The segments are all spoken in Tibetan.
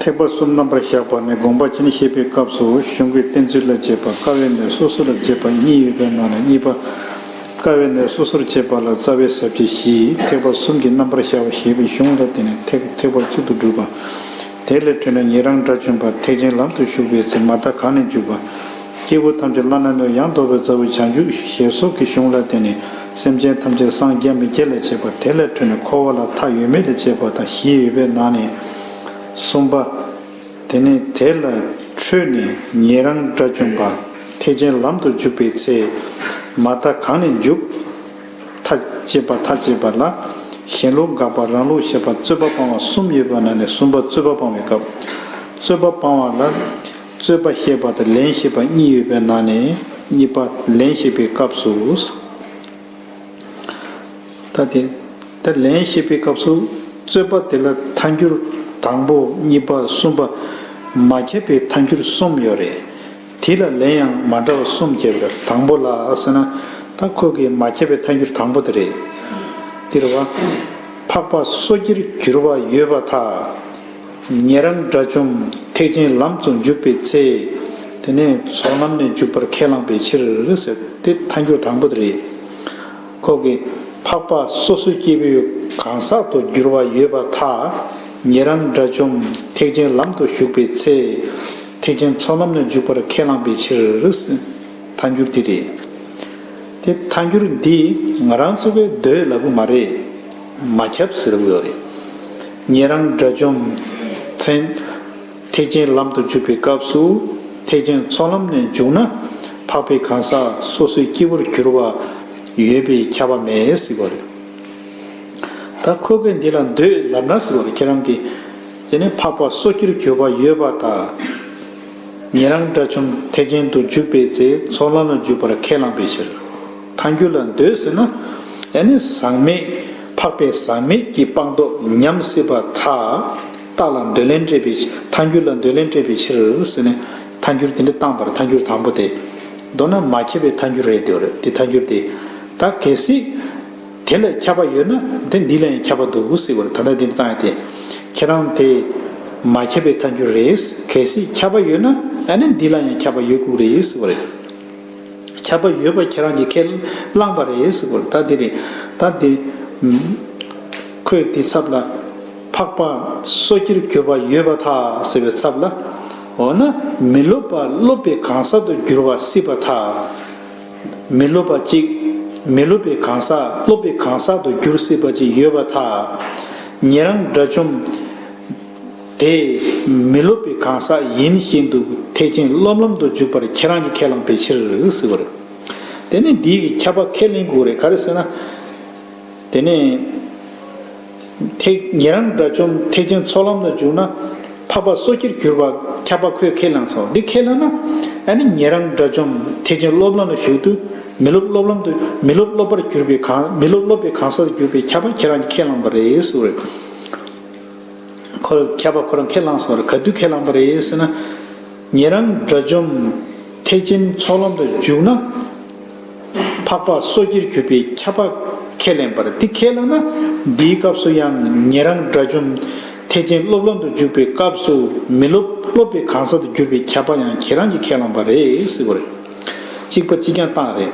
ཐེག་པ་གསུམ་རྣམ་པར་བཞག་པ་ནི་དགོངས་པ་ཅན་བཤད་པའི་སྐབས་སུ་གཞུང་གི་གཏན་ཚིགས་ལ་དཔྱད་པ་དཀའ་བས་ནི་སོ་སོ་ལ་དཔྱད་པ་གཉིས་ཡོད་པའི་ནང་ནས་གཉིས་པ། དཀའ་བས་ནི་སོ་སོར་དཔྱད་པ་ལ་རྩ་བའི་ཟབ་ཁྱད་བཞི། ཐེག་པ་གསུམ་གྱི་རྣམ་པར་བཞག་པ་ཞེས་པའི་གཞུང་ལ་བརྟེན་ནས་ཐེག་ཐེག་པ་གཅིག་ཏུ་བསྒྲུབས་པ། དེ་ལས་འཕྲོས་ནས་ཉན་རང་དགྲ་བཅོམ་པ་ཐེག་ཆེན་ལམ་དུ་ཞུགས་པའི་ཚེ་མ་མཐའ་གང་ནས་འཇུག་པ། སྐྱེ་བོ་ཐམས་ཅད་བླ་ན་མེད་ཡངས་དོག་པའི་མཛའ་བོའི་བྱང་ཆུབ་ཞེས་སོགས་ཀྱི་གཞུང་ལ་བརྟེན་ནས་སེམས་ཅན་ཐམས་ཅད་སངས་རྒྱ་མི་སྐྱེ་ལ་བྱེད་པ་དེ་ལས་འཕྲོས་ནས་འཁོར་བ་ལ་མཐའ་ཡོད་མེད་ལས་བྱེད་པ་དང་བཞི་ཡོད་པའི་ནང་ནས། གསུམ་པ། དེ་ནས་དེ་ལ་འཕྲོས་ནས་ཉན་རང་དགྲ་བཅོམ་པ་ཐེག་ཆེན་ལམ་དུ་འཇུག་པའི་ཚེ། མ་མཐའ་གང་ནས་འཇུག། མཐའ་བཅད་པ་མཐའ་བཅད་པ་ལ། གཞན་ལུགས་འགག་པ་རང་ལུགས་ཞེས་པ་རྩོད་པ་སྤང་བ་གསུམ་ཡོད་པའི་ནང་ནས་གསུམ་པ་རྩོད་པ་སྤང་བའི་སྐབས། རྩོད་པ་སྤང་བ་ལ། རྩོད་པ་ཤེས་པ་དང་ལན་ཤེས་པ་གཉིས་ཡོད་པའི་ནང་ནས་གཉིས་པ་ལན་ཤེས་པའི་སྐབས་སུ། ད་དེ་ལྟར་ལན་ཤེས་པའི་སྐབས་སུ་རྩོད་པ་དེ་ལ་མཐའ་འགྱུར་དང་པོ་གཉིས་པ་གསུམ་པ་མ་ཁྱབ་པའི་མཐའ་འགྱུར་གསུམ་ཡོད་རེད། དེ་ལ་ལན་ཡང་མ་འདྲ་བ་གསུམ་ཁྱབ་པའི་དང་པོ་ལ་ཟེར་ན་ད་ཁོ་གི་མ་ཁྱབ་པའི་མཐའ་འགྱུར་དང་པོ་དེ་རེད། འདིར་བ། འཕགས་པ་སོ་སྐྱེར་འགྱུར་བ་ཡོད་པ་དག། ཉན་རང་དགྲ་བཅོམ་ཐེག་ཆེན་ལམ་དུ་འཇུག་པའི་ཚེ། དེ་ནས་ཚོགས་ལམ་ནས་འཇུག་པར་ཁས་བླངས་པའི་ཕྱིར་ཟེར། དེ་མཐའ་འཁྱོལ་དང་པོ་དེ་རེད། ཁོག་གི། འཕགས་པ་སོ་སོའི་སྐྱེ་བོའི་གང་ཟག་ཏུ་འགྱུར་བ་ཡོད་པ་དག། ཉན་རང་དགྲ་བཅོམ་ཐེག་ཆེན་ལམ་དུ་ཞུགས་པའི་ཚེ། ཐེག་ཆེན་ཚོགས་ལམ་ནས་འཇུག་པར་ཁས་བླངས་པའི་ཕྱིར། མཐའ་འགྱུར་དེ་རེད། དེ་མཐའ་འགྱུར་འདི་ང་རང་ཚོ་བས་འདོད་ལ་གུ་མ་རེད། མ་ཁྱབ་ཟེར་གི་ཡོད་རེད། ཉན་རང་དགྲ་བཅོམ། མཚན། ཐེག་ཆེན་ལམ་དུ་འཇུག་པའི་སྐབས་སུ། ཐེག་ཆེན་ཚོགས་ལམ་ནས་འཇུག་ན། འཕགས་པའི་གང་ཟག་སོ་སོའི་སྐྱེ་བོར་གྱུར་པ། ཡོད་པས་ཁྱབ་པ་མེད་ཟེར་བ་རེད། ད་ཁོ་གེ་འདི་ལ་འདོད་ལབ་ན་ཟེར་བ་རེད་ཁྱེད་རང་གི། དེ་ནི་འཕགས་པ་སོ་སྐྱེར་གྱུར་པ་ཡོད་པ་དག། ཉན་རང་དགྲ་བཅོམ་ཐེག་ཆེན་དུ་འཇུག་པའི་ཚེ་ཚོགས་ལམ་ལ་འཇུག་པར་ཁས་བླངས་པའི་ཕྱིར། ཐང་རྒྱུད་ལ་འདོད་ཟེར་ན། ཨེ་ནི་ཟག་མེད། འཕགས་པའི་ཟག་མེད་ཀྱི་སྤངས་རྟོགས་ཉམས་སྲིད་པ་མཐའ་དག་ལ་འདོད་ལན་སྤྲད་པའི་ཕྱིར་ཐང་རྒྱུད་ལ་འདོད་ལན་སྤྲད་པའི་ཕྱིར་ཟེར་ནས། ཐང་རྒྱུད་དེ་འདྲ་བཏང་བར་ཐང་རྒྱུད་དང་པོ་དེ། མདོར་ན་མ་ཁྱབ་པའི་ཐང་རྒྱུད་རེད་དེ་འདི་ཐང་རྒྱུད་དེ། ད་གལ་སྲིད། དེ་ལས་ཁྱབ་པ་ཡོད་ན་དེ་འདི་ལ་ཡང་ཁྱབ་པ་འདུག་སྲིད་པར་ད་ལྟ་འདི་འདྲ་བཏང་ཡོད་དེ། ཁྱེད་རང་དེ། མ་ཁྱབ་པའི་ཐང་རྒྱུད་རེད། གལ་སྲིད་ཁྱབ་པ་ཡོད་ན་ཨེ་ནི་འདི་ལ་ཡང་ཁྱབ་པ་ཡོད་ཁུག་རེད་སྲིད་པ་རེད། ཁྱབ་པ་ཡོད་པ་ཁྱེད་རང་གིས་ཁས་བླངས་པ་རེད་ཟེར་བར་ད་དེ་རེད་ད་དེ། ཁོས་དེའི་ཚབ་ལ། འཕགས་པ་སོ་སྐྱེར་གྱུར་པ་ཡོད་པ་དག་ཟེར་བའི་ཚབ་ལ། འོ་ན་མི་སློབ་པ་སློབ་པའི་གང་ཟག་ཏུ་འགྱུར་བ་སྲིད་པ་དག། མི་སློབ་པ་གཅིག། མི་སློབ་པའི་གང་ཟག་སློབ་པའི་གང་ཟག་ཏུ་འགྱུར་སྲིད་པ་གཅིག་ཡོད་པ་དག། ཉན་རང་དགྲ་བཅོམ། དེ་མི་སློབ་པའི་གང་ཟག་ཡིན་བཞིན་དུ་ཐེག་ཆེན་སློབ་ལམ་དུ་འཇུག་པར་ཁྱེད་རང་གིས་ཁས་བླངས་པའི་ཕྱིར་ཟེར་བ་རེད། དེ་ནི་འདིའི་ཁྱབ་པ་ཁས་ལེན་དགོས་རེད་ག་རེ་ཟེར་ན། དེ་ནས། ཐེག་ཉེ་རང་དགྲ་བཅོམ་ཐེག་ཆེན་ཚོགས་ལམ་དུ་འཇུག་ན། འཕགས་པ་སོ་སྐྱེར་གྱུར་པ་ཁྱབ་པ་ཁོས་ཁས་བླངས་སོ་འདི་ཁས་ལེན་ན། ཨ་ནི་ཉེ་རང་དགྲ་བཅོམ་ཐེག་ཆེན་སློབ་ལམ་ལ་ཞུགས་དུས་མི་སློབ་སློབ་ལམ་དུ་མི་སློབ་སློབ་པར་གྱུར་པའི་གང་མི་སློབ་སློབ་པའི་གང་ཟག་ཏུ་གྱུར་པའི་ཁྱབ་པ་ཁྱེད་རང་གིས་ཁས་བླངས་པ་རེད་ཟེར་བ་རེད། ཁོ་རང་ཁྱད་པར་ཁོ་རང་ཁས་བླངས་སོང་རེད་ག་དུས་ཁས་བླངས་པ་རེད་ཟེར་ན། ངེད་རང་དགྲ་བཅོམ་ཐེག་ཆེན་ཚོགས་ལམ་དུ་འཇུག་ན། འཕགས་པ་སོ་སྐྱེར་གྱུར་པའི་ཁྱད་པར་ཁས་ལེན་པར་འདི་ཁས་བླངས་ན་འདིའི་སྐབས་སུ་ཡང་ངེད་རང་དགྲ་བཅོམ་ཐེག་ཆེན་སློབ་ལམ་དུ་འཇུག་པའི་སྐབས་སུ་མི་སློབ་སློབ་པའི་གང་ཟག་ཏུ་གྱུར་པའི་ཁྱད་པར་ཡང་ཁྱེད་རང་གིས་ཁས་བླངས་པ་རེད་ཟེར་བ་རེད། གཅིག་པ་གཅིག་རྐྱང་སྟངས་རེད།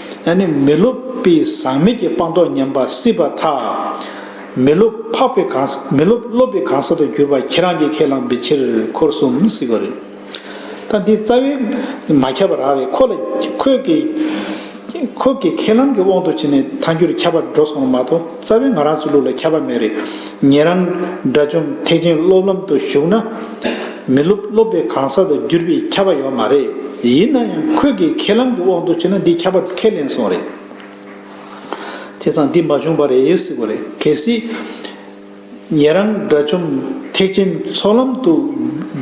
ཨ་ནི་མི་སློབ་དཔེ་བཟང་མེད་ཀྱི་སྤངས་རྟོགས་ཉམས་པ་སྲིད་པ་ཐག། མི་སློབ་འཕགས་པའི་གང་ཟག་མི་སློབ་སློབ་པའི་གང་ཟག་ཏུ་གྱུར་པ་ཁྱེད་རང་གིས་ཁས་བླངས་པའི་ཕྱིར་འཁོར་གསུམ་སྲིད་པ་རེད། ད་འདི་རྩ་བའི་མ་ཁྱབ་པ་རག་རེད་ཁོ་ལ་ཁོས་ཀྱི། ཁོ་ཀྱི་ཁས་བླངས་ཀྱི་དབང་དུ་བྱས་ནས་ཐང་རྒྱུད་ཁྱབ་པར་འགྲོ་སོང་བ་མ་གཏོགས་རྩ་བའི་ང་རང་ཚོའི་ལུགས་ལ་ཁྱབ་པ་མེད་རེད། ངེད་རང་དགྲ་བཅོམ་ཐེག་ཆེན་སློབ་ལམ་དུ་ཞུགས་ན། མི་སློབ་སློབ་པའི་གང་ཟག་ཏུ་གྱུར་པའི་ཁྱབ་པ་ཡོད་མ་རེད། ཡིན་ན་ཡང་ཁོད་ཀྱི་ཁས་ལམ་གྱི་འོག་ཏུ་བྱོན་ན་འདིས་ཁྱབ་པ་ཁས་ལེན་སོང་རེད། དེ་ཙང་འདི་མ་བྱུང་བ་རེད་ཡོད་སྲིད་པ་རེད་གལ་སྲིད། ངེད་རང་དགྲ་བཅོམ་ཐེག་ཆེན་ཚོགས་ལམ་དུ་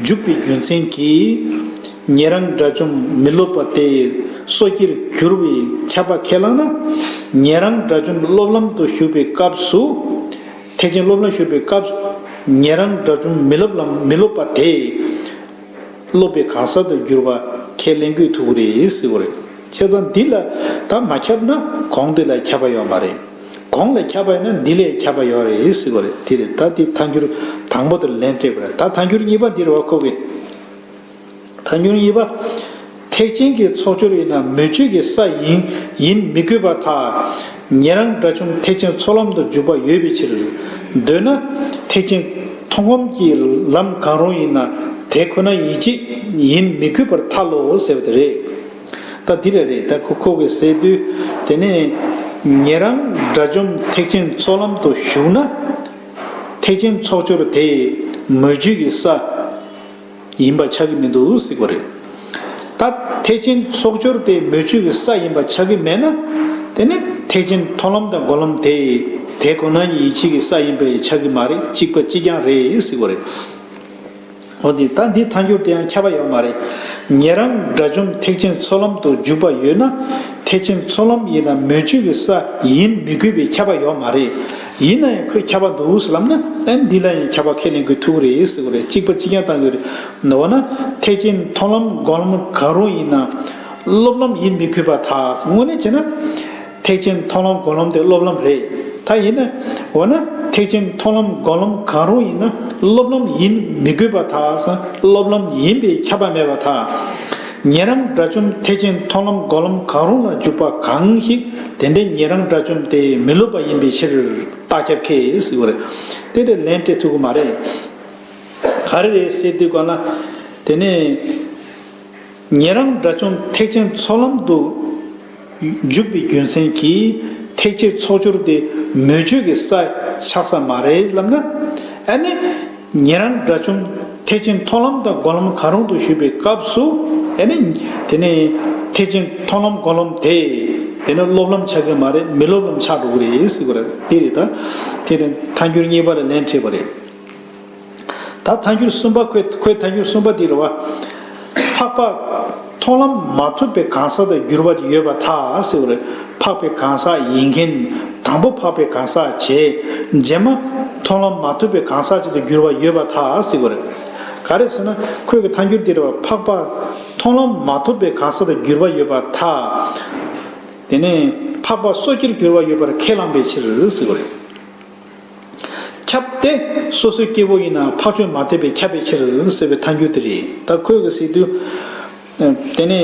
འཇུག་པའི་རྒྱུ་མཚན་གྱིས། ངེད་རང་དགྲ་བཅོམ་མི་སློབ་པ་དེ་ཡི་སོ་སྐྱེར་གྱུར་བའི་ཁྱབ་པ་ཁས་བླངས་ན། ངེད་རང་དགྲ་བཅོམ་སློབ་ལམ་དུ་ཞུགས་པའི་སྐབས་སུ། ཐེག་ཆེན་སློབ་ལ་ཞུགས་པའི་སྐབས་སུ། ཉན་རང་དགྲ་བཅོམ་མི་སློབ་ལ་མི་སློབ་པ་དེས། སློབ་པའི་གང་ཟག་ཏུ་འགྱུར་བ་ཁས་ལེན་དགོས་ཐུག་གི་རེད། ཁྱད་མཚར་འདི་ལ་ད་མ་ཁྱབ་ན་གོང་དེ་ལ་ཁྱབ་པ་ཡོད་མ་རེད། གོང་ལ་ཁྱབ་པ་ཡོད་ན་འདི་ལས་ཁྱབ་པ་ཡོད་རེད། དེ་རེད་ད་འདི་ཐ་འགྱུར་དང་པོ་དེར་ལན་སྤྲད་དགོས་རེད། ད་ཐ་འགྱུར་གཉིས་པ་འདིར་བ་ཁོ་གི། ཐ་སྙོལ་གཉིས་པ། ཐེག་ཆེན་གྱི་ཚོགས་སྦྱོར་ཡིན་ན་མོས་སྤྱོད་ཀྱི་ས་ཡིན་ཡིན་མི་དགོས་པ་ཐ་སྙད་རང་འདྲ་བྱུང་ཐེག་ཆེན་ཚོགས་ལམ་དུ་འཇུག་པ་ཡོད་པའི་ཕྱིར། འདོད་ན། ཐེག་ཆེན་མཐོང་སྒོམ་གྱི་ལམ་གང་རུང་ཡིན་ན་དེ་ཁོ་ན་ཡིད་ཆེས་ཡིན་མི་དགོས་པར་ཐ་ལོ་ཟེར་བ་དེ་རེད། ད་འདི་རེ་རེད་ད་ཁོ་ཁོ་གི་ཟེར་དུས་དེ་ནས། ངེད་རང་དགྲ་བཅོམ་ཐེག་ཆེན་ཚོགས་ལམ་དུ་ཞུགས་ན། ཐེག་ཆེན་ཚོགས་སྦྱོར་དེ་མོས་སྤྱོད་ཀྱི་ས། ཡིན་པ་ཆགས་ཀྱི་མི་འདུག་སྲིད་གོ་རེད། ད་ཐེག་ཆེན་ཚོགས་སྦྱོར་དེ་མོས་སྤྱོད་ཀྱི་ས་ཡིན་པ་ཆགས་ཀྱི་མེད་ན། དེ་ནི་ཐེག་ཆེན་མཐོང་ལམ་དང་གོ་ལམ་དེ་དེ་ཁོ་ན་ཉིད་ཡིད་ཆེས་ཀྱི་ས་ཡིན་པ་ཡང་ཆགས་ཀྱི་མ་རེད་གཅིག་པ་གཅིག་རྐྱང་རེད་སྲིད་གོ་རེད། འོ་དེ་ད་འདི་མཐའ་འགྱུར་དེའང་ཁྱབ་པ་ཡོད་མ་རེད། ཉེ་རང་དགྲ་བཅོམ་ཐེག་ཆེན་ཚོགས་ལམ་དུ་འཇུག་པ་ཡོད་ན། ཐེག་ཆེན་ཚོགས་ལམ་ཡིན་ན་མོས་སྤྱོད་ཀྱི་ས་ཡིན་མི་དགོས་པའི་ཁྱབ་པ་ཡོད་མ་རེད། ཡིན་ན་ཡང་ཁོས་ཁྱབ་པ་འདུག་ཟེར་ལབ་ན་ཨེ་འདི་ལ་ཡང་ཁྱབ་པ་ཁས་ལེན་དགོས་ཐུག་གི་རེད་ཟེར་གི་རེད་གཅིག་པ་གཅིག་རྐྱང་བཏང་གི་རེད་འོ་ན་ཐེག་ཆེན་མཐོང་ལམ་དགོངས་ལམ་གང་རུང་ཡིན་ན་སློབ་ལམ་ཡིན་མི་དགོས་པ་དག་དངོས་གནས་བྱས་ན་ཐེག་ཆེན་མཐོང་ལམ་དགོངས་ལམ་དེ་སློབ་ལམ་རེད་ད་ཡིན་ན་འོ་ན་ཐེག་ཆེན་མཐོང་ལམ་དགོངས་ལམ་གང་རུང་ཡིན་ན་སློབ་ལམ་ཡིན་མི་དགོས་པ་དག་སློབ་ལམ་ཡིན་པས་ཁྱབ་པ་མེད་པ་དག། ཉན་རང་དགྲ་བཅོམ་ཐེག་ཆེན་མཐོང་ལམ་སྒོམ་ལམ་གང་རུང་ལ་འཇུག་པ་གང་ཞིག་དེ་འདྲའི་ཉན་རང་དགྲ་བཅོམ་དེ་མི་སློབ་པ་ཡིན་པའི་ཕྱིར། རྟགས་ཁྱབ་ཁས་ཟིག་བ་རེད། དེ་འདྲའི་ལན་སྤྲད་ཐུབ་ཀྱི་མ་རེད། ག་རེ་རེད་ཟེར་དུས་གོ་ན། དེ་ནི། ཉན་རང་དགྲ་བཅོམ་ཐེག་ཆེན་ཚོགས་ལམ་དུ། འཇུག་པའི་རྒྱུ་མཚན་གྱིས་ཐེག་ཆེན་ཚོགས་སྦྱོར་དེ་མོས་སྤྱོད་ཀྱི་ས་ཆགས་ས་མ་རེད་ལབ་ན། ཨ་ནི། ངེད་རང་དགྲ་བཅོམ་ཐེག་ཆེན་མཐོང་ལམ་དང་སྒོམ་ལམ་གང་རུང་དུ་ཞུགས་པའི་སྐབས་སུ། ཨ་ནི། དེ་ནི། ཐེག་ཆེན་མཐོང་ལམ་སྒོམ་ལམ་དེ། དེ་ནི་སློབ་ལམ་ཆགས་ཀྱི་མ་རེད་མི་སློབ་ལམ་ཆགས་འགྲོ་གི་རེད་ཟེར་གི་རེད། དེ་རེད་ད། དེ་ནི་ཐཱན་འགྱུར་གཉིས་པ་ལ་ལན་སྤྲད་པ་རེད། ད་མཐའ་འགྱུར་གསུམ་པ་ཁོས་ཁོའི་མཐའ་འགྱུར་གསུམ་པ་འདི་རུ་བ། འཕགས་པ། མཐོང་ལམ་མ་ཐོབ་པའི་གང་ཟག་དང་འགྱུར་བ་ཅིག་ཡོད་པ་ཐག་བསྲེ་བར་འཕགས་པའི་གང་ཟག་ཡིན་མཁན། དང་པོ་འཕགས་པའི་གང་ཟག་བྱས། རྗེས་མ། མཐོང་ལམ་མ་ཐོབ་པའི་གང་ཟག་ཅིག་ཏུ་འགྱུར་བ་ཡོད་པ་ཐག་བསྲེ་བར། ག་རེ་ཟེར་ན། ཁོས་ཀྱི་མཐའ་འགྱུར་འདི་རུ་བ། འཕགས་པ། མཐོང་ལམ་མ་ཐོབ་པའི་གང་ཟག་དང་འགྱུར་བ་ཡོད་པ་ཐག། དེ་ནས། འཕགས་པ་སོ་སྐྱེར་འགྱུར་བ་ཡོད་པར་ཁས་བླངས་པའི་ཕྱིར། ཟེར་བ་རེད། ཁྱབ་སྟེ། སོ་སོའི་སྐྱེ་བོ་ཡིན་ན་འཕགས་ཆོས་མ་དད་པས་ཁྱབ་པའི་ཕྱིར་ཟེར་བའི་ཐ་འགྱུར་དེ་རེད། ད་ཁོས་གི་སི་ཏུ། དེ་ནས།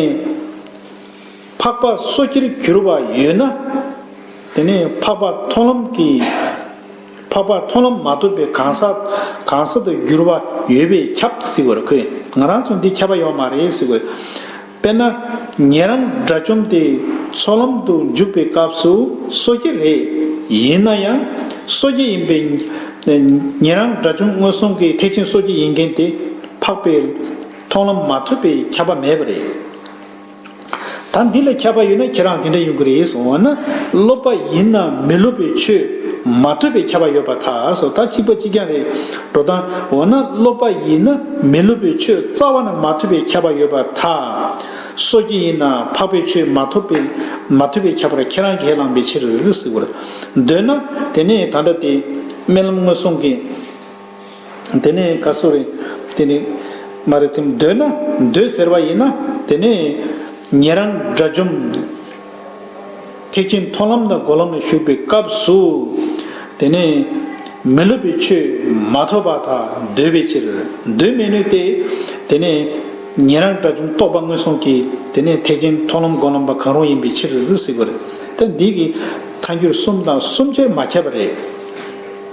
འཕགས་པ་སོ་སྐྱེར་གྱུར་པ་ཡོད་ན། དེ་ནས་འཕགས་པ་མཐོང་ལམ་གྱི། འཕགས་པ་མཐོང་ལམ་མ་ཐོབ་པའི་གང་ཟག་གང་ཟག་ཏུ་གྱུར་པ་ཡོད་པས་ཁྱབ་ཟེར་བར་ཁོས་ང་རང་ཚོ་འདི་ཁྱབ་པ་ཡོད་མ་རེད་ཟེར། དཔེར་ན། ངེད་རང་དགྲ་བཅོམ་དེ་ཚོགས་ལམ་དུ་འཇུག་པའི་སྐབས་སུ་སོ་སྐྱེ་རེད། ཡིན་ན་ཡང། སོ་སྐྱེ་ཡིན་པའི། ངེད་རང་དགྲ་བཅོམ་སྔོན་སོང་གི་ཐེག་ཆེན་སོ་སྐྱེ་ཡིན་མཁན་དེ་འཕགས་པའི། མཐོང་ལམ་མ་ཐོབ་པའི་ཁྱབ་པ་མེད་པ་རེད། ད་འདི་ལ་ཁྱབ་པ་ཡོད་ན་ཁྱེད་རང་དེ་འདྲ་ཡོང་གི་རེད། འོ་ན། སློབ་པ་ཡིན་ན་མི་སློབ་པའི་ཆོས་མ་ཐོས་པའི་ཁྱབ་པ་ཡོད་པ་ཐག་ད་གཅིག་པ་གཅིག་རྐྱང་རེད། འགྲོ་དང། འོ་ན་སློབ་པ་ཡིན་ན་མི་སློབ་པའི་ཆོས་རྩ་བ་ན་མ་ཐོས་པའི་ཁྱབ་པ་ཡོད་པར་ཐལ། སོ་སྐྱེ་ཡིན་ན་འཕགས་པའི་ཆོས་མ་ཐོབ་པའི་མ་ཐོས་པའི་ཁྱབ་པར་ཁྱེད་རང་ཁས་བླངས་པའི་ཕྱིར་ཟེར་བར་འདོད་ན། དེ་ནས་ད་འདྲ་སྟེ། དམན་ལམ་སྔོན་སོང་གི། དེ་ནས་ཀ་སུ་རི། དེ་ནི། མ་རེ་ཐིམ་འདོད་ན་འདོད་ཟེར་བ་ཡིན་ན་དེ་ནས། ཉན་རང་དགྲ་བཅོམ། ཐེག་ཆེན་མཐོང་ལམ་དང་སྒོམ་ལམ་ལ་ཞུགས་པའི་སྐབས་སུ། དེ་ནས་མི་སློབ་པའི་ཆོས་མ་ཐོབ་པ་དག་འདོད་པའི་ཕྱིར། འདོད་མི་ནུས་ཏེ། དེ་ནས་ཉན་རང་དགྲ་བཅོམ་རྟོགས་པ་སྔོན་སོང་གི་དེ་ནས་ཐེག་ཆེན་མཐོང་ལམ་སྒོམ་ལམ་པ་གང་རུང་ཡིན་པའི་ཕྱིར། ཟེར་བ་རེད། ད་འདི་གི་མཐའ་འགྱུར་གསུམ་དང་གསུམ་ཆར་མ་ཁྱབ་པ་རེད།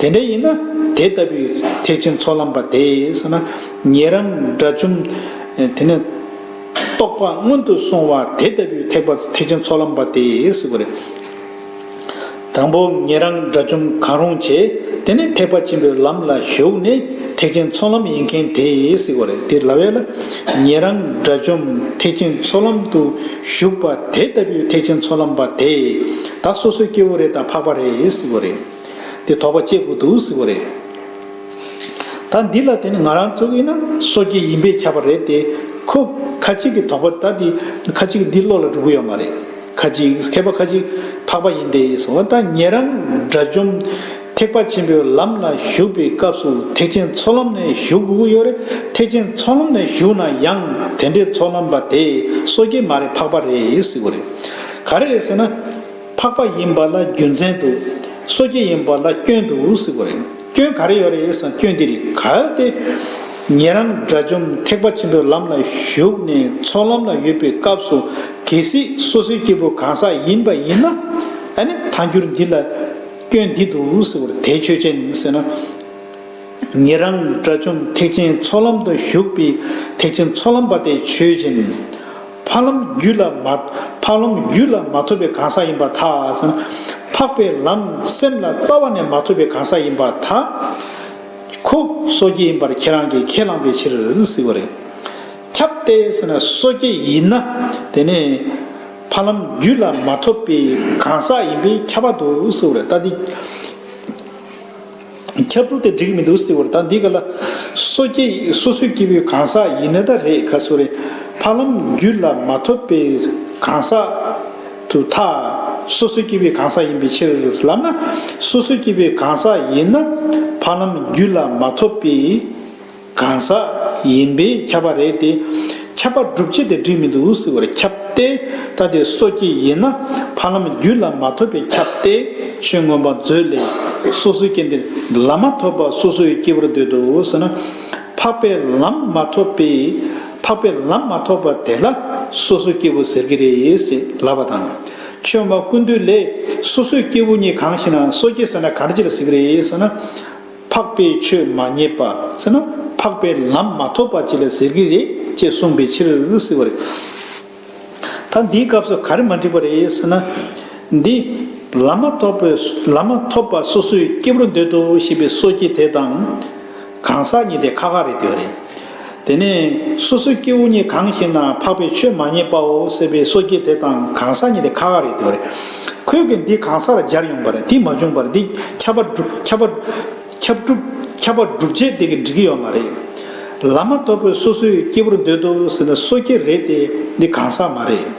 དེ་འདྲ་ཡིན་ན་དེ་ལྟ་བུའི་ཐེག་ཆེན་ཚོགས་ལམ་པ་དེས་ན་ཉེ་རང་དགྲ་བཅོམ། དེ་ནས་རྟོགས་པ་སྔོན་དུ་སོང་བ་དེ་ལྟ་བུའི་ཐེག་པ་ཐེག་ཆེན་ཚོགས་ལམ་པ་དེས་ཟེར་བ་རེད། དང་པོ་ཉེ་རང་དགྲ་བཅོམ་གང་རུང་བྱས་དེ་ནས་ཐེག་པ་ཆེན་པོའི་ལམ་ལ་ཞུགས་ནས་ཐེག་ཆེན་ཚོགས་ལམ་ཡིན་མཁན་དེས་ཟེར་བ་རེད་དེ་ལ་བས་ལ་ཉེ་རང་དགྲ་བཅོམ་ཐེག་ཆེན་ཚོགས་ལམ་དུ་ཞུགས་པ་དེ་ལྟ་བུའི་ཐེག་ཆེན་ཚོགས་ལམ་པ་དེས་ད་སོ་སོའི་སྐྱེ་བོ་རེ་དང་འཕགས་པ་རེས་ཟེར་བ་རེད། དེ་དོགས་པ་སྐྱེ་དགོས་འདུག་ཟེར་བ་རེད། ད་འདི་ལ་དེ་ནི་ང་རང་ཚོ་གིས་ན་སོ་སྐྱེ་ཡིན་པས་ཁྱབ་པ་རེད་དེ། ཁོ། ཁ་ཅིག་གིས་དོགས་པ་ད་འདི། ཁ་ཅིག་གིས་འདི་བློ་ལ་འགྲོ་གི་ཡོད་མ་རེད། ཁ་ཅིག། མཁས་པ་ཁ་ཅིག། འཕགས་པ་ཡིན་ཏེ་ཟེར་བ་ད་ངེད་རང། དགྲ་བཅོམ། ཐེག་པ་ཆེན་པོའི་ལམ་ལ་ཞུགས་པའི་སྐབས་སུ་ཐེག་ཆེན་ཚོགས་ལམ་ནས་ཞུགས་དགོས་ཀྱི་ཡོད་རེད། ཐེག་ཆེན་ཚོགས་ལམ་ནས་ཞུགས་ན་ཡང་དེ་འདྲའི་ཚོགས་ལམ་པ་དེ་སོ་སྐྱེ་མ་རེད་འཕགས་པ་རེད་ཟེར་བ་རེད། ག་རེ་རེད་ཟེར་ན། འཕགས་པ་ཡིན་པ་ལ་རྒྱུ་མཚན་འདུག། སོ་སྐྱེ་ཡིན་པ་ལ་སྐྱོན་འདུག་ཟེར་བ་རེད། སྐྱོན་ག་རེ་ཡོད་རེད་བསམ་སྐྱོན་འདི་རེད་ག་སྟེ། ངེད་རང་དགྲ་བཅོམ་ཐེག་པ་ཆེན་པོའི་ལམ་ལ་ཞུགས་ནས་ཚོགས་ལམ་ལ་ཡོད་པའི་སྐབས་སུ་གལ་སྲིད་སོ་སོའི་སྐྱེ་བོ་གང་ཟག་ཡིན་པ་ཡིན་ན། ཨཱ་ནི་ཐང་འགྱུར་འདི་ལ་སྐྱོན་འདི་འདུག་ཟེར་བ་དེ་ཆོས་ཅན་ཟེར་ན། ངེད་རང་དགྲ་བཅོམ་ཐེག་ཆེན་ཚོགས་ལམ་དུ་ཞུགས་པའི་ཐེག་ཆེན་ཚོགས་ལམ་པ་དེ་ཆོས་ཅན། འཕགས་ལམ་རྒྱུད་ལ་མ། འཕགས་ལམ་རྒྱུད་ལ་མ་ཐོབ་པའི་གང་ཟག་ཡིན་པ་དག། འཕགས་པའི་ལམ་སེམས་ལ་རྩ་བ་ནས་མ་ཐོབ་པའི་གང་ཟག་ཡིན་པ་དག། ཁོ། སོ་སྐྱེ་ཡིན་པར་ཁྱེད་རང་གིས་ཁས་བླངས་པའི་ཕྱིར། ཟེར་བ་རེད། ཁྱབ་སྟེ། སོ་སྐྱེ་ཡིན་ན། དེ་ནི། འཕགས་ལམ་རྒྱུད་ལ་མ་ཐོབ་པའི་གང་ཟག་ཡིན་པས་ཁྱབ་པ་འདུག་ཟེར་བ་རེད། ད་དེ། ཁྱབ་བསྒྲུབ་དེ་འགྲིག་མི་འདུག་སྲིད་བོར་ད་འདི་ག་ལ། སོ་སྐྱེ་སོ་སོའི་སྐྱེ་བོའི་གང་ཟག་ཡིན་ནི་ད་རེད་ག་སོ་རེད། འཕགས་ལམ་རྒྱུད་ལ་མ་ཐོབ་པའི་གང་ཟག་དུ་ཐ། སོ་སོའི་སྐྱེ་བོའི་གང་ཟག་ཡིན་པའི་ཕྱིར། ལམ་ན་སོ་སོའི་སྐྱེ་བོའི་གང་ཟག་ཡིན་ན། འཕགས་ལམ་རྒྱུད་ལ་མ་ཐོབ་པའི། གང་ཟག་ཡིན་པས་ཁྱབ་པ་རེད་དེ། ཁྱབ་པ་སྒྲུབ་བྱེད་དེ་སྒྲིབ་མེད་དུ་འུ་སི་བར་ཁྱབ་སྟེ། ད་དེ་སོ་སྐྱེ་ཡིན་ན་ཕ་ལམ་རྒྱུད་ལ་མ་ཐོབ་པས་ཁྱབ་སྟེ། ཆོས་མངོན་པ་མཛོད་ལས། སོ་སོའི་སྐྱེ་འདི་ལམ་མ་ཐོབ་པར་སོ་སོའི་སྐྱེ་བོར་འདོད་དོ་ཟེར་ན། འཕགས་པའི་ལམ་མ་ཐོབ་པས་འཕགས་པའི་ལམ་མ་ཐོབ་པ་དེ་ལ་སོ་སོའི་སྐྱེ་བོ་ཟེར་གྱི་རེད་ཅེས་ལབ་པ་དང། ཆོས་མ་ཀུན་འདུས་ལས། སོ་སོའི་སྐྱེ་བོ་གཉིས་གང་ཞིག་ན་སོ་སྐྱེ་ཟེར་ན་གར་གྱིར་ཟེར་གྱི་རེད་ཟེར་ན། འཕགས་པའི་ཆོས་མ་རྙེད་པ་ཟེར་ན་འཕགས་པའི་ལམ་མ་ཐོབ་པ་ཅི་ལ་ཟེར་གྱི་རེད་ཅེས་གསུངས་པའི་ཕྱིར་ཟེར་བ་རེད། ད་འདིའི་སྐབས་སུ་ག་རེ་མ་འགྲིག་པ་རེད་ཟེར་ན། འདི། ལམ་མ་ཐོབ་པའི་ལམ་མ་ཐོབ་པ་སོ་སོའི་སྐྱེ་བོར་འདོད་དོ་ཞེས་པའི་སོ་སྐྱེ་དེ་དང། གང་ཟག་གཉིས་དེ་ཁ་ཁ་རེད་ཟེར་བ་རེད། དེ་ནས་སོ་སོའི་སྐྱེ་བོ་གཉིས་གང་ཞིག་ན་འཕགས་པའི་ཆོས་མ་རྙེད་པའོ་སྲེད་པའི་སོ་སྐྱེ་དེ་དང་གང་ཟག་གཉིས་དེ་ཁ་ཁ་རེད་དེ་བ་རེད། ཁོས་གིས་འདི་གང་ཟག་ལ་སྦྱར་ཡོང་པ་རེད་དེ་མ་བྱུང་བར་འདི་ཁྱབ་པ་ཁྱབ་པ་ཁྱབ་སྒྲུབ་ཁྱབ་པ་སྒྲུབ་བྱེད་དེ་གིས་འགྲིག་གི་ཡོད་མ་རེད། ལམ་མ་ཐོབ་པའི་སོ་སོའི་སྐྱེ་བོར་འདོད་དོ་ཟེར་ན་སོ་སྐྱེ་རེད་དེ་འདི་གང་ཟག་མ་རེད།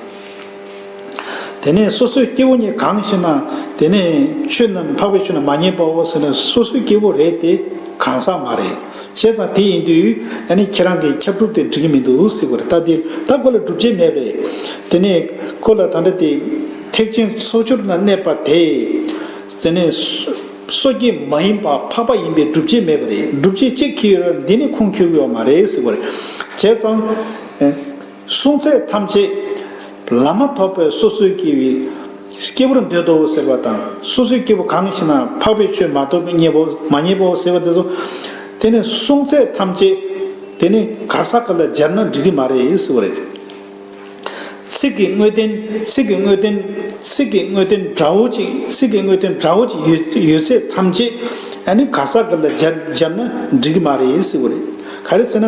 དེ་ནས་སོ་སོའི་སྐྱེ་བོ་ནི་གང་ཞེ་ན། དེ་ནས་ཆོས་རྣམས་འཕགས་པའི་ཆོས་རྣམས་མ་རྙེད་པའོ་ཟེར་ན་སོ་སོའི་སྐྱེ་བོ་རེད་དེ་གང་ཟག་མ་རེད། བྱས་ཙང་དེ་ཡིན་དུས་ད་ནི་ཁྱེད་རང་གིས་ཁྱབ་སྒྲུབ་དེ་འགྲིག་གི་མི་འདུག་ཟེར་བར་ལྟ་དེ་ལྟ་ཁོ་ལ་སྒྲུབ་བྱེད་མེད་པས། དེ་ནས་ཁོ་ལ་ད་འདྲ་སྟེ། ཐེག་ཆེན་ཚོགས་སྦྱོར་ན་གནས་པ་དེ། དེ་ནི་སོ་སྐྱེ་མ་ཡིན་པ་འཕགས་པ་ཡིན་པས་སྒྲུབ་བྱེད་མེད་པ་རེད་སྒྲུབ་བྱེད་ཅིག་གིས་ཡོད་ན་འདི་ནི་ཁུངས་འཁྱོལ་གི་ཡོད་མ་རེད་ཟེར་བར། བྱས་ཙང། གསུང་ཚད་ཐམས་ཅད་ལ་མ་ཐོབ་པའི་སོ་སོའི་སྐྱེ་བོའི་སྐྱེ་བོར་འདོད་དོ་ཟེར་བ་དང་སོ་སོའི་སྐྱེ་བོ་གང་ཞིག་ན་འཕགས་པའི་ཆོས་མ་ཐོབ་མཉེས་པའོ་མ་མཉེས་པའོ་ཟེར་བ་དེ་ཚོ་དེ་ནི་གསུང་ཚད་ཐམས་ཅད་དེ་ནི་ག་ས་ག་ལ་སྦྱར་ན་འགྲིག་གི་མ་རེད་ཟེར་བ་རེད། ཚིག་གི་དངོས་བསྟན་ཚིག་གི་དངོས་བསྟན་ཚིག་གི་དངོས་བསྟན་འདྲ་བོ་ཅིག་ཚིག་གི་དངོས་བསྟན་འདྲ་བོ་ཅིག་ཡོད་ཡོད་ཚད་ཐམས་ཅད་ཨ་ནི་ག་ས་ག་ལ་སྦྱར་སྦྱར་ན་འགྲིག་གི་མ་རེད་ཟེར་བ་རེད་ག་རེ་ཟེར་ན།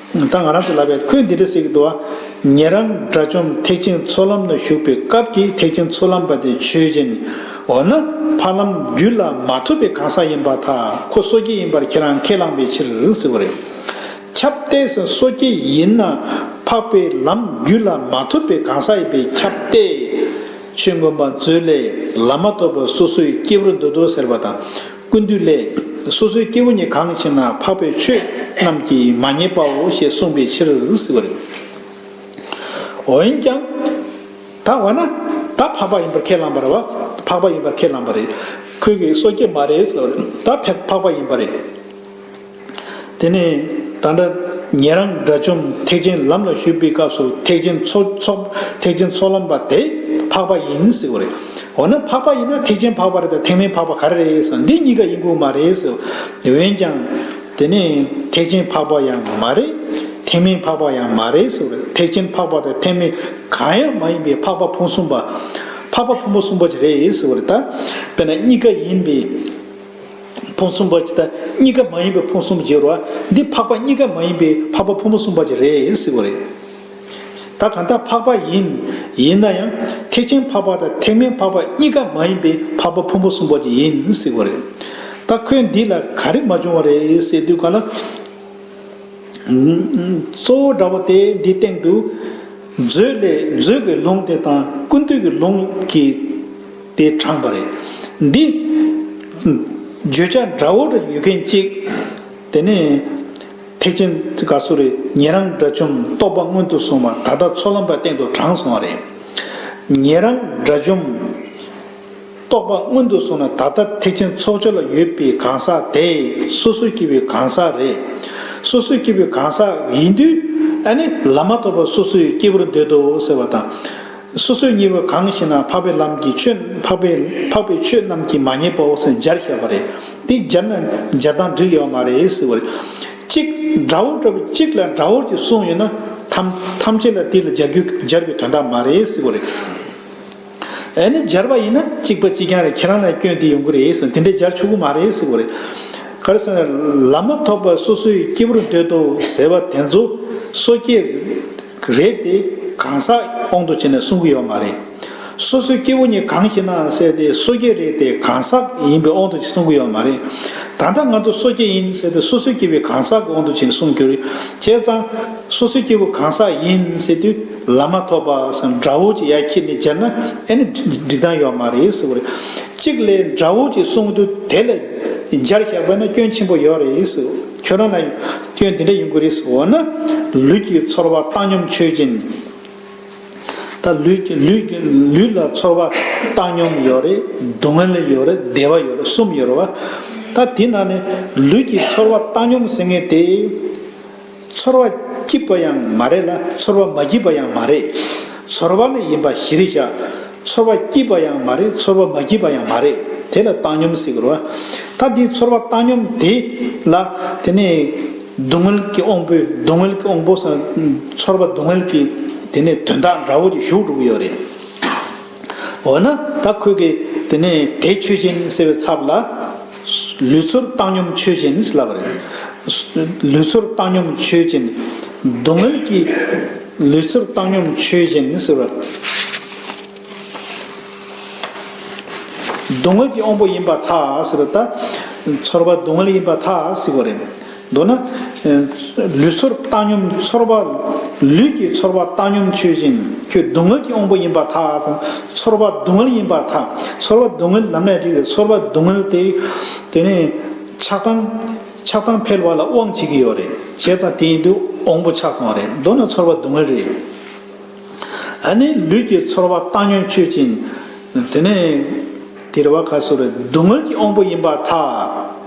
ད་ང་རང་ཚོ་ལབ་པའི་ཁོད་འདི་འདྲ་ཟེར་གི་འདུག་བ། ཉེ་རང་དགྲ་བཅོམ་ཐེག་ཆེན་ཚོགས་ལམ་ན་བཞུགས་པའི་སྐབས་ཀྱི་ཐེག་ཆེན་ཚོགས་ལམ་པ་དེ་ཆོས་སྦྱིན། འོ་ན་ཕ་ལམ་རྒྱུད་ལ་མ་ཐོབ་པའི་གང་ཟག་ཡིན་པ་དག་ཁོ་སོ་སྐྱེ་ཡིན་པར་ཁྱེད་རང་ཁས་བླངས་པའི་ཕྱིར་ཟེར་བ་རེད། ཁྱབ་གཏད་ཟེར་སོ་སྐྱེ་ཡིན་ན་འཕགས་པའི་ལམ་རྒྱུད་ལ་མ་ཐོབ་པའི་གང་ཟག་ཡིན་པས་ཁྱབ་གཏད། ཆོས་མགོན་པ་མཛོད་ལས་ལམ་མ་ཐོབ་པ་སོ་སོའི་སྐྱེ་བོར་འདོད་དོ་ཟེར་བ་དང། ཀུན་བཏུས་ལས། སོ་སོའི་སྐྱེ་བོ་ཉིད་གང་གི་ཕྱིར་ན་འཕགས་པའི་ཆོས་རྣམས་ཀྱིས་མ་རྙེད་པའོ་ཞེས་གསུངས་པའི་ཕྱིར་ཟེར་བ་རེད། འོན་ཀྱང། ད་བར་ན། ད་འཕགས་པ་ཡིན་པར་ཁས་བླངས་པ་རེད། འཕགས་པ་ཡིན་པར་ཁས་བླངས་པ་རེད། ཁྱོད་ཀྱིས་སོ་སྐྱེ་མ་རེད་ཟེར་བ་རེད། ད་འཕགས་པ་ཡིན་པ་རེད། དེ་ནས་ད་ལྟ་ངེད་རང་དགྲ་བཅོམ་ཐེག་ཆེན་ལམ་ལ་ཞུགས་པའི་སྐབས་སུ་ཐེག་ཆེན་ཚོགས་ལམ་པ་དེ་འཕགས་པ་ཡིན་ཟེར་བ་རེད། འོ་ན་འཕགས་པ་ཡིན་ན་ཐེག་ཆེན་འཕགས་པ་རེད་དམ་ཐེག་དམན་འཕགས་པ་ག་རེ་རེད་ཟེར་ན་འདི་གཉིས་ཀ་ཡིན་དགོས་མ་རེད་ཟེར། འོན་ཀྱང། དེ་ནས་ཐེག་ཆེན་འཕགས་པ་ཡང་མ་རེད། ཐེག་དམན་འཕགས་པ་ཡང་མ་རེད་ཟེར་བ་རེད་ཐེག་ཆེན་འཕགས་པ་དང་ཐེག་དམན་གང་ཡང་མ་ཡིན་པའི་འཕགས་པ་ཕུན་སུམ་པ། འཕགས་པ་ཕུན་པོ་སུམ་པ་ཅིག་རེད་ཟེར་བ་རེད། དཔེར་ན་གཉིས་ཀ་ཡིན་པའི། ཕུང་གསུམ་པ་ཇི་ལྟ་གཉིས་ཀ་མ་ཡིན་པའི་ཕུང་གསུམ་བརྗེ་རུ་བ་འདི་འཕགས་པ་གཉིས་ཀ་མ་ཡིན་པའི་འཕགས་པ་ཕུང་པོ་གསུམ་པ་ཇི་རེད་ཟེར་བ་རེད། ད་གང་ལྟར་འཕགས་པ་ཡིན། ཡིན་ན་ཡང་ཐེག་ཆེན་འཕགས་པ་དང་ཐེག་དམན་འཕགས་པ་གཉིས་ཀ་མ་ཡིན་པའི་འཕགས་པ་ཕུང་པོ་གསུམ་པ་ཇི་ཡིན་ཟེར་བ་རེད། ད་ཁོས་འདི་ལ་ག་རེ་མ་བྱུང་བ་རེད་ཟེར་དུས་གང་ལྟར། གཙོ་བོ་འདྲ་བོ་དེ་འདིའི་སྟེང་དུ། མཛོད་ལས་མཛོད་ཀྱི་ལུང་དེ་དང་ཀུན་བཏུས་ཀྱི་ལུང་གི། དེ་དྲངས་པ་རེད། འདི། བརྗོད་བྱ་འདྲ་བོ་རེ་ཡོད་མཁན་གཅིག། དེ་ནི། ཐེག་ཆེན་དགའ་བསུ་རེ་ཉན་རང་དགྲ་བཅོམ་རྟོགས་པ་སྔོན་དུ་སོང་བ་ད་ལྟ་ཚོགས་ལམ་པ་སྟེང་དུ་དྲངས་སོང་བ་རེད། ཉན་རང་དགྲ་བཅོམ། རྟོགས་པ་སྔོན་དུ་སོང་ན་ད་ལྟ་ཐེག་ཆེན་ཚོགས་སྦྱོར་ལ་ཡོད་པའི་གང་ཟག་དེ་སོ་སོའི་སྐྱེ་བོའི་གང་ཟག་རེད། སོ་སོའི་སྐྱེ་བོའི་གང་ཟག་ཡིན་དུས། ཨ་ནི། ལམ་མ་ཐོབ་པར་སོ་སོའི་སྐྱེ་བོར་འདོད་དོ་ཟེར་བ་དང། སོ་སོའི་གཉེན་བོ་གང་ཞེ་ན་འཕགས་པའི་ལམ་གྱི་ཆོས་འཕགས་པའི་འཕགས་པའི་ཆོས་རྣམས་ཀྱིས་མ་ཉེས་པའོ་སོགས་སྦྱར་བཤད་པ་རེད། འདི་སྦྱར་ན་སྦྱར་སྟངས་འགྲིག་ཡོད་མ་རེད་ཟེར་བ་རེད། གཅིག། དགྲ་བོ་དགྲ་བོ་གཅིག་ལ་དགྲ་བོར་གྱི་གསུངས་ཡོད་ན། ཐམས་ཐམས་ཅད་ལ་དེ་ལ་སྦྱར་རྒྱུ་སྦྱར་བའི་དོན་དག་མ་རེད་ཟེར་བ་རེད། ཨེ་ནི་སྦྱར་བ་ཡིན་ན་གཅིག་པ་གཅིག་རྐྱང་རེད་ཁྱེད་རང་ལ་སྐྱོན་དེ་ཡོང་གི་རེད་ཟེར་དེ་འདྲ་སྦྱར་ཆོག་གི་མ་རེད་ཟེར་བ་རེད། ག་རེ་ཟེར་ན། ལམ་མ་ཐོབ་པར་སོ་སོའི་སྐྱེ་བོར་འདོད་དོ་ཟེར་བ་དེ་ཚོ་སོ་སྐྱེ། རེད་དེ། གང་ཟག་དབང་དུ་བྱས་ནས་གསུང་གི་ཡོད་མ་རེད། སོ་སོའི་སྐྱེ་བོ་གཉིས་གང་ཞིག་ནའང་བསལ་ཏེ་སོ་སྐྱེ་རེད་དེ་གང་ཟག་ཡིན་པའི་དབང་དུ་བྱས་གསུང་གི་ཡོད་མ་རེད། ད་ལྟ་ང་ཚོ་སོ་སྐྱེ་ཡིན་བསལ་ཏེ་སོ་སོའི་སྐྱེ་བོའི་གང་ཟག་གི་དབང་དུ་བྱས་ནས་གསུང་གི། བྱས་ཙང། སོ་སོའི་སྐྱེ་བོ་གང་ཟག་ཡིན་བསལ་དུས་ལ་མ་ཐོབ་པ་སམ་དགྲ་བོ་ཅིག་ཡ་ཁྱེད་ནས་བྱས་ན་ཨེ་ནི་འགྲིག་སྟངས་ཡོད་མ་རེད་ཟེར་བ་རེད། གཅིག་ལས་དགྲ་བོ་ཅིག་གསུང་དུས་དེ་ལ་སྦྱར་བཞག་པས་ན་སྐྱོན་ཆེན་པོ་ཡོད་རེད། ཁྱོད་རང་ལ་སྐྱོན་དེ་འདྲ་ཡོང་གི་རེད་ཟེར་བ་ན། ལུས་ཀྱི་ཚོར་བ་བཏང་སྙོམས་ཆོས་ཅན། ད་ལུས་ལ་ཚོར་བ་བཏང་སྙོམས་ཡོད་རེད་སྡུག་བསྔལ་ཡོད་རེད་བདེ་བ་ཡོད་རེད་གསུམ་ཡོད་རེད་བ། ད་དེ་ན་ནི་ལུས་ཀྱི་ཚོར་བ་བཏང་སྙོམས་ཟེར་ངེས་ཏེ། ཚོར་བ་སྐྱིད་པ་ཡང་མ་རེད་ལ་ཚོར་བ་མ་སྐྱིད་པ་ཡང་མ་རེད། ཚོར་བ་ནི་ཡིན་པ་གཞིར་བཞག། ཚོར་བ་སྐྱིད་པ་ཡང་མ་རེད་ཚོར་བ་མ་སྐྱིད་པ་ཡང་མ་རེད་དེ་ལ་བཏང་སྙོམས་ཟེར་དགོས། ད་དེའི་ཚོར་བ་བཏང་སྙོམས་དེ་ལ་དེ་ནས་སྡུག་བསྔལ་གྱི་དབང་པོས་སྡུག་བསྔལ་གྱི་དབང་པོ་སངས་ཚོར་བ་སྡུག་བསྔལ་གྱི་དེ་ནས་དོན་དག་འདྲ་བོ་ཅིག་ཞུགས་འགྲོ་གི་ཡོད་རེད། འོ་ན་ད་ཁོས་ཀྱི་དེ་ནས་དེ་ཆོས་ཅན་ཟེར་བའི་ཚབ་ལ། ལུས་ཚོར་བཏང་སྙོམས་ཆོས་ཅན། ལུས་ཚོར་བཏང་སྙོམས་ཆོས་ཅན། སྡུག་བསྔལ་གྱི། ལུས་ཚོར་བཏང་སྙོམས་ཆོས་ཅན། སྡུག་བསྔལ་གྱི་དབང་པོ་ཡིན་པ་ཐག། ཚོར་བ་སྡུག་བསྔལ་ཡིན་པ་ཐག་གཟིགས་པ་རེད། མདོར་ན། ལུས་ཚོར་བཏང་སྙོམས་ཚོར་བ། ལུས་ཀྱི་ཚོར་བ་བཏང་སྙོམས་ཆོས་ཅན། ཁྱོད་སྡུག་བསྔལ་གྱི་དབང་པོ་ཡིན་པར་ཐག་ཧ་སོང། ཚོར་བ་སྡུག་བསྔལ་ཡིན་པར་ཐག། ཚོར་བ་སྡུག་བསྔལ་ལམ་ནས་སྒྲིག་པའི་ཚོར་བ་སྡུག་བསྔལ་དེ། དེ་ནི། ཆགས་སྡང། ཆགས་སྡང་འཕེལ་བ་ལ་དབང་བྱེད་ཀྱི་ཡོད་རེད། བྱས་ཙང་དེ་ཡིན་དུས་དབང་པོ་ཆགས་སོང་བ་རེད། མདོར་ན་ཚོར་བ་སྡུག་བསྔལ་རེད། ད་ནི་ལུས་ཀྱི་ཚོར་བ་བཏང་སྙོམས་ཆོས་ཅན། དེ་ནི། དེ་རེ་བ་ཁ་གསོ་རེད། སྡུག་བསྔལ་གྱི་དབང་པོ་ཡིན་པར་ཐག།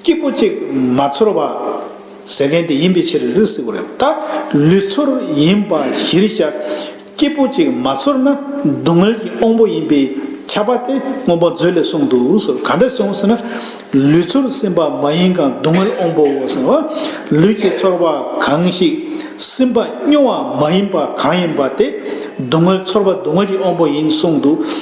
སྐྱིད་པོ་ཅིག་མ་ཚོར་བ། ཟེར་མཁན་དེ་ཡིན་པའི་ཕྱིར་རི་བསིལ་བ་རེད། ད་ལུས་ཚོར་ཡིན་པ་གཞིར་བཞག་སྐྱིད་པོ་ཅིག་མ་ཚོར་ན་སྡུག་བསྔལ་གྱི་དབང་པོ་ཡིན་པས་ཁྱབ་པ་དེ་སྔོན་པོ་མཛོད་ལས་གསུངས་འདུག་ཟེར་ག་འདྲས་སོང་ཟེར་ན། ལུས་ཚོར་སིམ་པ་མ་ཡིན་གང་སྡུག་བསྔལ་དབང་པོའོ་ཟེར་བ། ལུས་ཀྱི་ཚོར་བ་གང་ཞིག་སིམ་པ་སྨྱོ་བ་མ་ཡིན་པ་གང་ཡིན་པ་དེ་སྡུག་བསྔལ་ཚོར་བ་སྡུག་བསྔལ་གྱི་དབང་པོ་ཡིན་གསུངས་འདུག་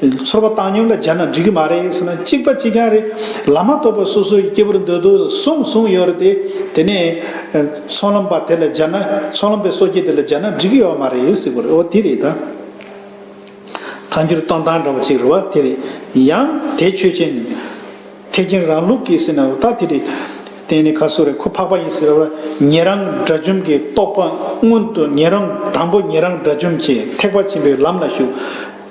ཚོར་བ་བཏང་སྙོམས་ལ་སྦྱར་ན་འགྲིག་གི་མ་རེད་ཟེར་ན་གཅིག་པ་གཅིག་རྐྱང་རེད། ལམ་མ་ཐོབ་པར་སོ་སོའི་སྐྱེ་བོར་འདོད་དོ་གསུངས་གསུངས་ཡོད་རེད་དེ། དེ་ནས། ཚོང་ལམ་པ་དེ་ལ་སྦྱར་ན་ཚོང་ལམ་པའི་སོ་སྐྱེ་དེ་ལ་སྦྱར་ན་འགྲིག་གི་ཡོད་མ་རེད་ཟེར་དགོས་རེད་འོ་དེ་རེད་ད། ཐཱན་འགྱུར་གཏོང་སྟངས་འདྲ་བོ་གཅིག་རེད་བ་དེ་རེད། ཡང། དེ་ཆོས་ཅན། ཐེག་ཆེན་རང་ལུགས་ཀྱི་ཟེར་ན་ད་དེ་རེད། དེ་ནི་ཁ་སོ་རེད་ཁོ་འཕགས་པ་ཡིན་ཟེར་བ། ཉན་རང་དགྲ་བཅོམ་གྱི་རྟོགས་པ་སྔོན་དུ་ཉན་རང་དང་པོ་ཉན་རང་དགྲ་བཅོམ་བྱས་ཐེག་པ་ཆེན་པོའི་ལམ་ལ་ཞུགས།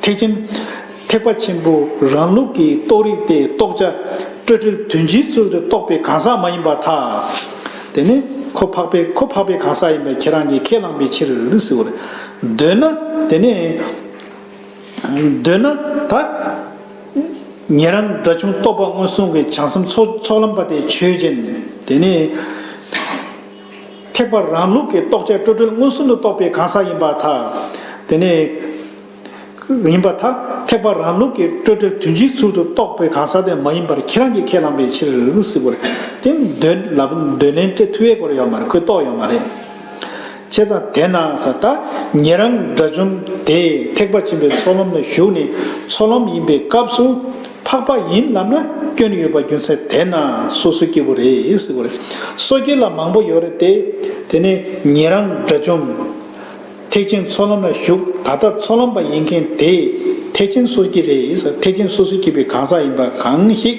ཐེག་ཆེན། ཐེག་པ་ཆེན་པོ་རང་ལུགས་ཀྱི་རྟོགས་རིགས་ཏེ་རྟོགས་བྱ་སྤྲོས་བྲལ་དོན་སྤྱིའི་ཚུལ་དུ་རྟོགས་པའི་གང་ཟག་མ་ཡིན་པ་དག། དེ་ནི་ཁོ་འཕགས་པས་ཁོ་འཕགས་པའི་གང་ཟག་ཡིན་པ་ཁྱེད་རང་གིས་ཁས་བླངས་པའི་ཕྱིར། འདོད་ན། དེ་ནི། འདོད་ན། ད། ཉན་རང་སྒྲ་ཆུང་རྟོགས་པ་སྔོན་སོང་གི་བྱང་སེམས་ཚོགས་ལམ་པ་སྟེ་ཆོས་ཅན། དེ་ནི། ཐེག་པ་རང་ལུགས་ཀྱི་རྟོགས་བྱ་སྤྲོས་བྲལ་མངོན་སུམ་དུ་རྟོགས་པའི་གང་ཟག་ཡིན་པ་དག། དེ་ནས། ཡིན་པ་དག་ཐེག་པ་རང་ལུགས་ཀྱི་སྤྲོས་བྲལ་དོན་སྤྱིའི་ཚུལ་དུ་རྟོགས་པའི་གང་ཟག་དེ་མ་ཡིན་པར་ཁྱེད་རང་གིས་ཁས་བླངས་པའི་ཕྱིར། དེ་ནི་འདོད་ལབ་འདོད་ལན་སྤྲད་ཐུ་བའི་སྐོར་ཡོད་མ་རེད་ཁོས་རྟོགས་ཡོད་མ་རེད། བྱས་ཙང་དེས་ན་ས་ད་ངེད་རང་དགྲ་བཅོམ་དེས་ཐེག་པ་ཆེན་པོའི་ཚོགས་ལམ་ལ་ཞུགས་ནས་ཚོགས་ལམ་ཡིན་པའི་སྐབས་སུ། འཕགས་པ་ཡིན་ལབ་ན་སྐྱོན་ཡོད་པ་རྒྱུ་མཚན་དེས་ན་སོ་སོའི་སྐྱེ་བོ་རེད་ཟེར་དགོས་རེད། སོ་སྐྱེ་ལ་མང་པོ་ཡོད་རེད་དེ། དེ་ནས་ངེད་རང་དགྲ་བཅོམ། ཐེག་ཆེན་ཚོགས་ལམ་ལ་ཞུགས་ད་ལྟ་ཚོགས་ལམ་པ་ཡིན་མཁན་དེས་ཐེག་ཆེན་སོ་སྐྱེ་རེད་ཟེར་ཐེག་ཆེན་སོ་སོ་སྐྱེ་བའི་གང་ཟག་ཡིན་པ་གང་ཞིག།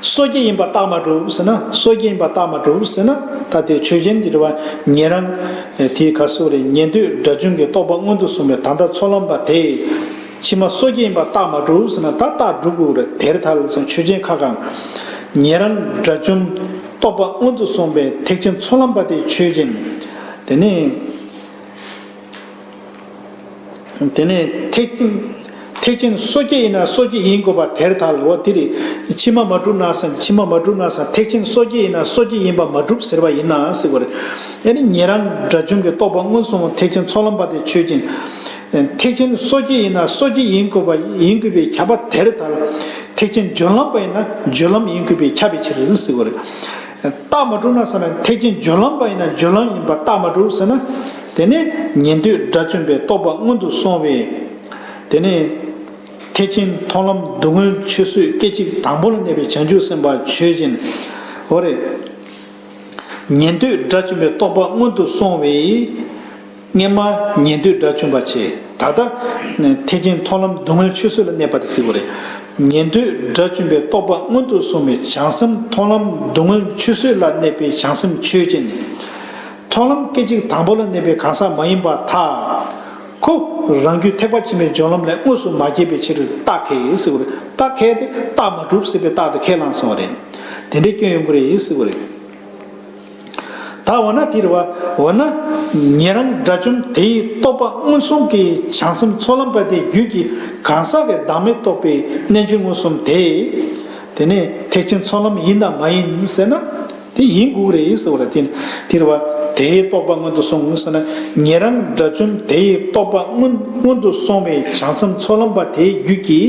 སོ་སྐྱེ་ཡིན་པ་རྟགས་མ་གྲུབ་ཟེར་ན་སོ་སྐྱེ་ཡིན་པ་རྟགས་མ་གྲུབ་ཟེར་ན་ད་དེ་ཆོས་ཅན་གྱི་རེད་བ་ཉན་རང། དེའི་ག་སོ་རེད་ཉན་དུས་སྒྲ་བྱུང་གི་རྟོག་པ་མངོན་དུ་གསུངས་པའི་ད་ལྟ་ཚོགས་ལམ་པ་དེས་ཕྱི་མ་སོ་སྐྱེ་ཡིན་པ་རྟགས་མ་གྲུབ་ཟེར་ན་ད་རྟགས་གྲུབ་དགོས་རེད་དེར་ཐལ་ཟེར་ཆོས་ཅན་ཁ་གང། ཉན་རང་སྒྲ་བྱུང་རྟོག་པ་མངོན་དུ་གསུངས་པའི་ཐེག་ཆེན་ཚོགས་ལམ་པ་དེ་ཆོས་ཅན། དེ་ནི། དེ་ནས་ཐེག་ཐེག་ཆེན་སོ་སྐྱེ་ཡིན་ན་སོ་སྐྱེ་ཡིན་དགོས་པ་དེར་ཐལ་ལོ་དེ་ལས་ཕྱི་མ་མ་གྲུབ་ན་ཟེར་ཕྱི་མ་མ་གྲུབ་ན་ཟེར་ཐེག་ཆེན་སོ་སྐྱེ་ཡིན་ན་སོ་སྐྱེ་ཡིན་པ་མ་གྲུབ་ཟེར་བ་ཡིན་ན་སྲིད་པ་རེད་ཨེ་ནི་ཉན་རང་དགྲ་བྱུང་གི་རྟོག་པ་མངོན་སུམ་ཐེག་ཆེན་ཚོགས་ལམ་པ་དེ་ཆོས་ཅན། ཐེག་ཆེན་སོ་སྐྱེ་ཡིན་ན་སོ་སྐྱེ་ཡིན་དགོས་པ་ཡིན་དགོས་པའི་ཁྱབ་པ་དེར་ཐལ། ཐེག་ཆེན་སྦྱོར་ལམ་པ་ཡིན་ན་སྦྱོར་ལམ་ཡིན་དགོས་པའི་ཁྱབ་པའི་ཕྱིར་ཟེར་བ་རེད། རྟགས་མ་གྲུབ་ན་ཟེར་ན་ཐེག་ཆེན་སྦྱོར་ལམ་པ་ཡིན་ན་སྦྱོར་ལམ་ཡིན་པར་རྟགས་མ་གྲུབ་ཟེར་ན། དེ་ནི་ཉན་ཐོས་དགྲ་བཅོམ་པའི་རྟོགས་པ་སྔོན་དུ་སོང་བས། དེ་ནི། ཐེག་ཆེན་མཐོང་ལམ་བསྡུ་དངོས་ཆོས་བཟོད་སྐད་ཅིག་དང་པོ་ལ་གནས་པའི་བྱང་ཆུབ་སེམས་དཔའ་ཆོས་ཅན། འོ་རེད། ཉན་ཐོས་དགྲ་བཅོམ་པའི་རྟོགས་པ་སྔོན་དུ་སོང་བས། སྔས་མ་ཉེས་འདོད་དགྲ་བཅོམ་པར་བྱེད། ད་ལྟ། ཐེག་ཆེན་མཐོང་ལམ་སྡུག་བསྔལ་ཆོས་བཟོད་ལ་གནས་པ་དེ་གཟིགས་པ་རེད། ཉེས་འདོད་དགྲ་བཅོམ་པའི་རྟོག་པ་མངོན་དུ་སོང་བའི་བྱང་སེམས་མཐོང་ལམ་སྡུག་བསྔལ་ཆོས་བཟོད་ལ་གནས་པའི་བྱང་སེམས་ཆོས་ཅན། མཐོང་ལམ་སྐད་ཅིག་དང་པོ་ལ་གནས་པའི་གང་ཟག་མ་ཡིན་པ་དག་གོ། རང་རྒྱུད་ཐེག་པ་ཆེན་པོའི་སྦྱོར་ལམ་ལས་དངོས་སུ་མ་སྐྱེས་པའི་ཕྱིར་རྟགས་ཁས་གཟིགས་པ་རེད། རྟགས་ཁས་ཏེ་རྟགས་མ་གྲུབ་ཟེར་བའི་རྟགས་དེ་ཁས་བླངས་སོང་བ་རེད། དེ་འདྲའི་སྐྱོན་ཡོང་གི་རེད་གཟིགས་པ་རེད། ད་འོ་ན་དེར་འོ་ན། ངེད་རང་དགྲ་བཅོམ་དེའི་རྟོགས་པ་མངོན་སུམ་གྱི་བྱང་སེམས་ཚོགས་ལམ་པ་དེའི་རྒྱུད་ཀྱི་གང་ཟག་གི་བདག་མེད་རྟོགས་པའི་རྣལ་འབྱོར་མངོན་སུམ་དེ། དེ་ནི་ཐེག་ཆེན་ཚོགས་ལམ་ཡིན་དམ་མ་ཡིན་ཟེར་ན། དེ་ཡིན་དགོས་རེད་ཟེར་བ་ལ་བརྟེན་དེར་བ་དེའི་རྟོགས་པ་སྔོན་དུ་སོང་ངོ་ཟེར་ན། ངེད་རང་དགྲ་བཅོམ་དེའི་རྟོགས་པ་སྔོན་དུ་སོང་བའི་བྱང་སེམས་ཚོགས་ལམ་པ་དེའི་རྒྱུད་ཀྱི།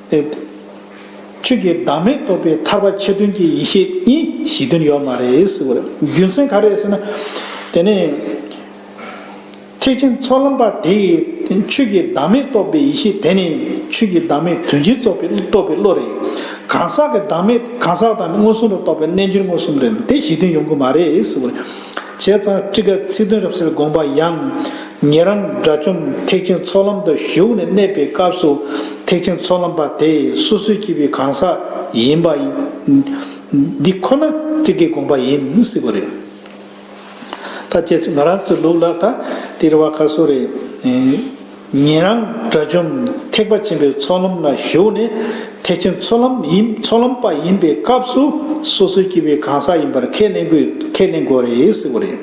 ཨེ། ཆོས་ཀྱི་བདག་མེད་རྟོགས་པའི་ཐར་པ་ཆེ་དོན་གྱི་ཡེ་ཤེས་གཉིས་གཞི་མཐུན་ཡོད་མ་རེད་ཟེར་བ་རེད། རྒྱུ་མཚན་ག་རེད་ཟེར་ན། དེ་ནི། ཐེག་ཆེན་ཚོགས་ལམ་པ་དེས་ཆོས་ཀྱི་བདག་མེད་རྟོགས་པའི་ཡེ་ཤེས་དེ་ནི་ཆོས་ཀྱི་བདག་མེད་དོན་གྱིས་རྟོགས་པའི་བློ་རེད། གང་ཟག་གི་བདག་མེད་དེ་གང་ཟག་དང་མངོན་སུམ་དུ་རྟོགས་པའི་རྣལ་འབྱོར་མངོན་སུམ་རེད། དེ་གཞི་མཐུན་ཡོང་གི་མ་རེད་ཟེར་བ་རེད། བྱས་ཙང་ཁྲི་ཀ་ཚིག་དོན་རབ་གསལ་དགོངས་པ་ཡང། ཉེ་རང་དགྲ་བཅོམ་ཐེག་ཆེན་ཚོགས་ལམ་དུ་ཞུགས་ནས་གནས་པའི་སྐབས་སུ་ཐེག་ཆེན་ཚོགས་ལམ་པ་དེ་སོ་སོའི་སྐྱེས་བུའི་གང་ཟག་ཡིན་པ། འདི་ཁོ་ན་ཁྲི་ཀའི་དགོངས་པ་ཡིན་སྲིད་པ་རེད། ད་ཁྱེད་ཚོས་ང་རང་ཚོའི་ལུགས་ལ་ད་དེ་རེ་བ་ག་སོ་རེད། ཉན་རང་དགྲ་བཅོམ་ཐེག་པ་ཆེན་པོའི་ཚོགས་ལམ་ལ་ཞུགས་ནས་ཐེག་ཆེན་ཚོགས་ལམ་ཡིན་ཚོགས་ལམ་པ་ཡིན་པའི་སྐབས་སུ་སོ་སོའི་སྐྱེ་བོའི་གང་ཟག་ཡིན་པར་ཁས་ལེན་དགོས་ཁས་ལེན་དགོས་རེད་ཟེར་བ་རེད།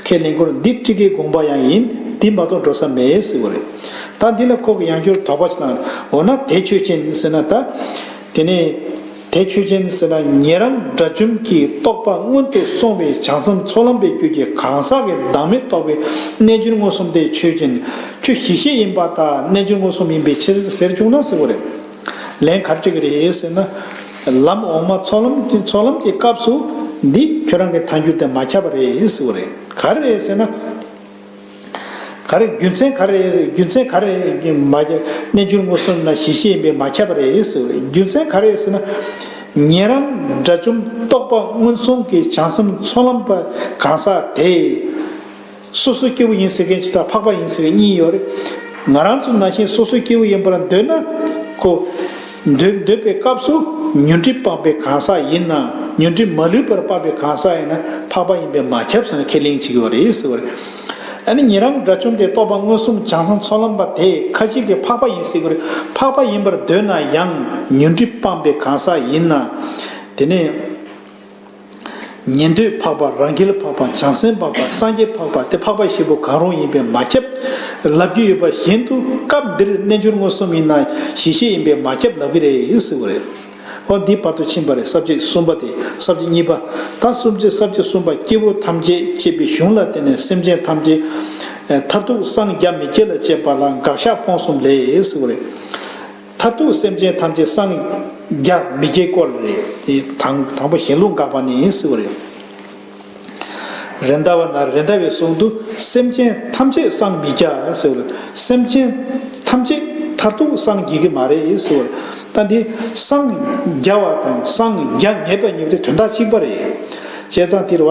ཁས་ལེན་སྐོར་འདི་ཁྲི་ཀའི་དགོངས་པ་ཡང་ཡིན་འདི་མ་གཏོགས་འགྲོ་ས་མེད་ཟེར་བ་རེད། ད་འདི་ལ་ཁོག་གི་ཡང་སྐྱོར་དོགས་པ་ཆེ་ན་འོ་ན་དེ་ཆོས་ཅན་ཟེར་ན་ད། དེ་ནས། དེ་ཆོས་ཅན་ཟེར་ན་ཉན་རང་དགྲ་བཅོམ་གྱི་རྟོགས་པ་སྔོན་དུ་སོང་བའི་བྱང་སེམས་ཚོགས་ལམ་པའི་རྒྱུད་ཀྱི་གང་ཟག་གི་བདག་མེད་རྟོགས་པའི་རྣལ་འབྱོར་མངོན་སུམ་དེ་ཆོས་ཅན། ཁྱོད་གཞི་ཤེས་ཡིན་པ་དག་རྣལ་འབྱོར་མངོན་སུམ་ཡིན་པའི་ཕྱིར་ཟེར་བཅུག་ན་ཟེར་བ་རེད། ལན་གར་ཅིག་རེད་ཟེར་ན། ལམ་འོག་མ་ཚོགས་ལམ་གྱི་སྐབས་སུ། འདི་ཁྱོད་རང་གི་ཐང་རྒྱུད་དེ་མ་ཁྱབ་པ་རེད་ཟེར་བ་རེད། ག་རེ་རེད་ཟེར་ན། ག་རེ་རྒྱུ་མཚན་ག་རེ་རྒྱུ་མཚན་ག་རེ་རྣལ་འབྱོར་མངོན་སུམ་ན་ཞི་ཤེས་པས་མ་ཁྱབ་པ་རེད་ཟེར་བ་རེད་རྒྱུ་མཚན་ག་རེ་ཟེར་ན། ཉན་རང་དགྲ་བཅོམ་རྟོགས་པ་མངོན་སུམ་གྱི་བྱང་སེམས་ཚོགས་ལམ་པ་གང་ཟག་དེས། སོ་སོའི་སྐྱེ་བོ་ཡིན་ཟེར་མཁན་གྱི་དང་འཕགས་པ་ཡིན་ཟེར་མཁན་གཉིས་ཡོད་རེད། ང་རང་ཚོ་ན་ཞེན་སོ་སོའི་སྐྱེ་བོ་ཡིན་པ་ལ་འདོད་ན། ཁོ། མདོས་འདོད་པའི་སྐབས་སུ་ཉོན་སྒྲིབ་སྤངས་པའི་གང་ཟག་ཡིན་ནམ་ཉོན་སྒྲིབ་མ་ལུས་པར་སྤངས་པའི་གང་ཟག་ཡིན་ན་འཕགས་པ་ཡིན་པས་མ་ཁྱབ་ཟེར་ན་ཁས་ལེན་བྱེད་ཀྱི་བ་རེད་ཟེར་བ་རེད། ཨ་ནི་ཉེ་རང་དགྲ་བཅོམ་དེ་རྟོགས་པ་མངོན་སུམ་བྱང་སེམས་ཚོགས་ལམ་པ་དེ་ཁ་ཅིག་གིས་འཕགས་པ་ཡིན་ཟེར་གྱི་རེད་འཕགས་པ་ཡིན་པར་འདོད་ན་ཡང་ཉོན་སྒྲིབ་སྤངས་པའི་གང་ཟག་ཡིན་ན། དེ་ནས། ཉན་ཐོས་འཕགས་པ་རང་རྒྱལ་འཕགས་པ་བྱང་སེམས་འཕགས་པ་སངས་རྒྱས་འཕགས་པ་སྟེ་འཕགས་པ་བཞི་པོ་གང་རུང་ཡིན་པས་མ་ཁྱབ། ལབ་རྒྱུ་ཡོད་པ་བཞིན་དུ་སྐབས་འདིར་རྣལ་འབྱོར་མངོན་སུམ་ཡིན་ན་གཞི་ཤེས་ཡིན་པས་མ་ཁྱབ་ལབ་ཀྱི་རེད་ཟེར་བ་རེད། ཨོ་འདིའི་བར་དུ་ཕྱིན་པ་རེད་ས་བཅད་གསུམ་པ་དེ་ས་བཅད་གཉིས་པ། ད་གསུམ་བཅད་ས་བཅད་གསུམ་པ་སྐྱེ་བོ་ཐམས་ཅད་ཅེས་པའི་གཞུང་ལ་བརྟེན་ནས་སེམས་ཅན་ཐམས་ཅད། མཐར་ཐུག་སངས་རྒྱ་མི་སྐྱེ་ལ་སྤྱད་པ་ལ་དགག་བཞག་སྤོང་གསུམ་ལས་ཟེར་བ་རེད། མཐར་ཐུག་སེམས་ཅན་ཐམས་ཅད་སངས། རྒྱ། མི་སྐྱེ་སྐོར་ལས་རེད། དེ་དང། དང་པོ་ཞེན་ལུགས་འགག་པ་ནི་སྲིད་པ་རེད། རེད་མདའ་བ་ན་རེད་མདའ་བའི་གསུང་དུ། སེམས་ཅན་ཐམས་ཅད་སངས་མི་རྒྱ། སྲིད་པ་རེད། སེམས་ཅན། ཐམས་ཅད། མཐར་ཐུག་སངས་རྒྱས་ཀྱི་མ་རེད་སྲིད་པ་རེད། ད་འདི། སངས། རྒྱ་བ་དང་སངས། རྒྱ། ངེས་པ་གཉིས་པོ་དེ་དོན་དག་གཅིག་པ་རེད། བྱས་ཙང་དེར་བ།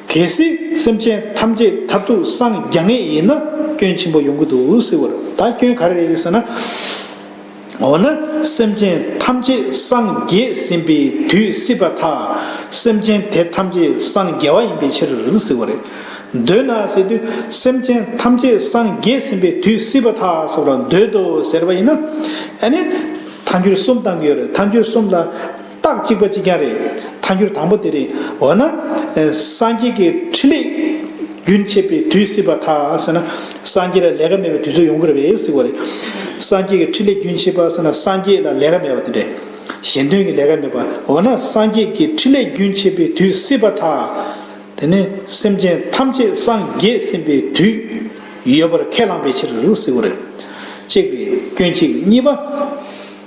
གལ་སྲིད་སེམས་ཅན་ཐམས་ཅད་མཐར་ཐུག་སངས་རྒྱ་ངེས་ཡིན་ན་སྐྱོན་ཆེན་པོ་ཡོང་གི་འདུག་ཟེར་བར་ད་སྐྱོན་ག་རེ་རེད་ཟེར་ན། འོ་ན་སེམས་ཅན་ཐམས་ཅད་སངས་རྒྱས་ཟིན་པའི་དུས་སྲིད་པ་དག་སེམས་ཅན་དེ་ཐམས་ཅད་སངས་རྒྱ་བ་ཡིན་པའི་ཕྱིར་ཟེར་བ་རེད། འདོད་ན་ཟེར་དུས་སེམས་ཅན་ཐམས་ཅད་སངས་རྒྱས་ཟིན་པའི་དུས་སྲིད་པ་དག་ཟེར་བ་འདོད་དོ་ཟེར་བ་ཡིན་ན། ཨ་ནི་མཐའ་འགྱུར་གསུམ་བཏང་གི་ཡོད་རེད་མཐའ་འགྱུར་གསུམ་ལ། རྟགས་གཅིག་པ་གཅིག་རྐྱང་རེད། ཐལ་འགྱུར་དང་པོ་དེ་རེད། འོ་ན། སངས་རྒྱས་ཀྱི་ཕྲིན་ལས། རྒྱུན་ཆད་པའི་དུས་སྲིད་པ་དག་ཟེར་ན། སངས་རྒྱས་ལ་ལས་ཀ་མེད་པའི་དུས་ཚོད་ཡོང་གི་རེད་པས་སྲིད་པ་རེད། སངས་རྒྱས་ཀྱི་ཕྲིན་ལས་རྒྱུན་ཆད་པ་ཟེར་ན་སངས་རྒྱས་ལ་ལས་ཀ་མེད་པ་དེ་རེད། གཞན་དོན་གྱི་ལས་ཀ་མེད་པ། འོ་ན་སངས་རྒྱས་ཀྱི་ཕྲིན་ལས་རྒྱུན་ཆད་པའི་དུས་སྲིད་པ་དག། དེ་ནི་སེམས་ཅན་ཐམས་ཅད་སངས་རྒྱས་ཟིན་པའི་དུས། ཡོད་པར་ཁས་བླངས་པའི་ཕྱིར་སྲིད་པ་རེད། གཅིག་རེད་སྐྱོན་གཅིག་གཉིས་པ།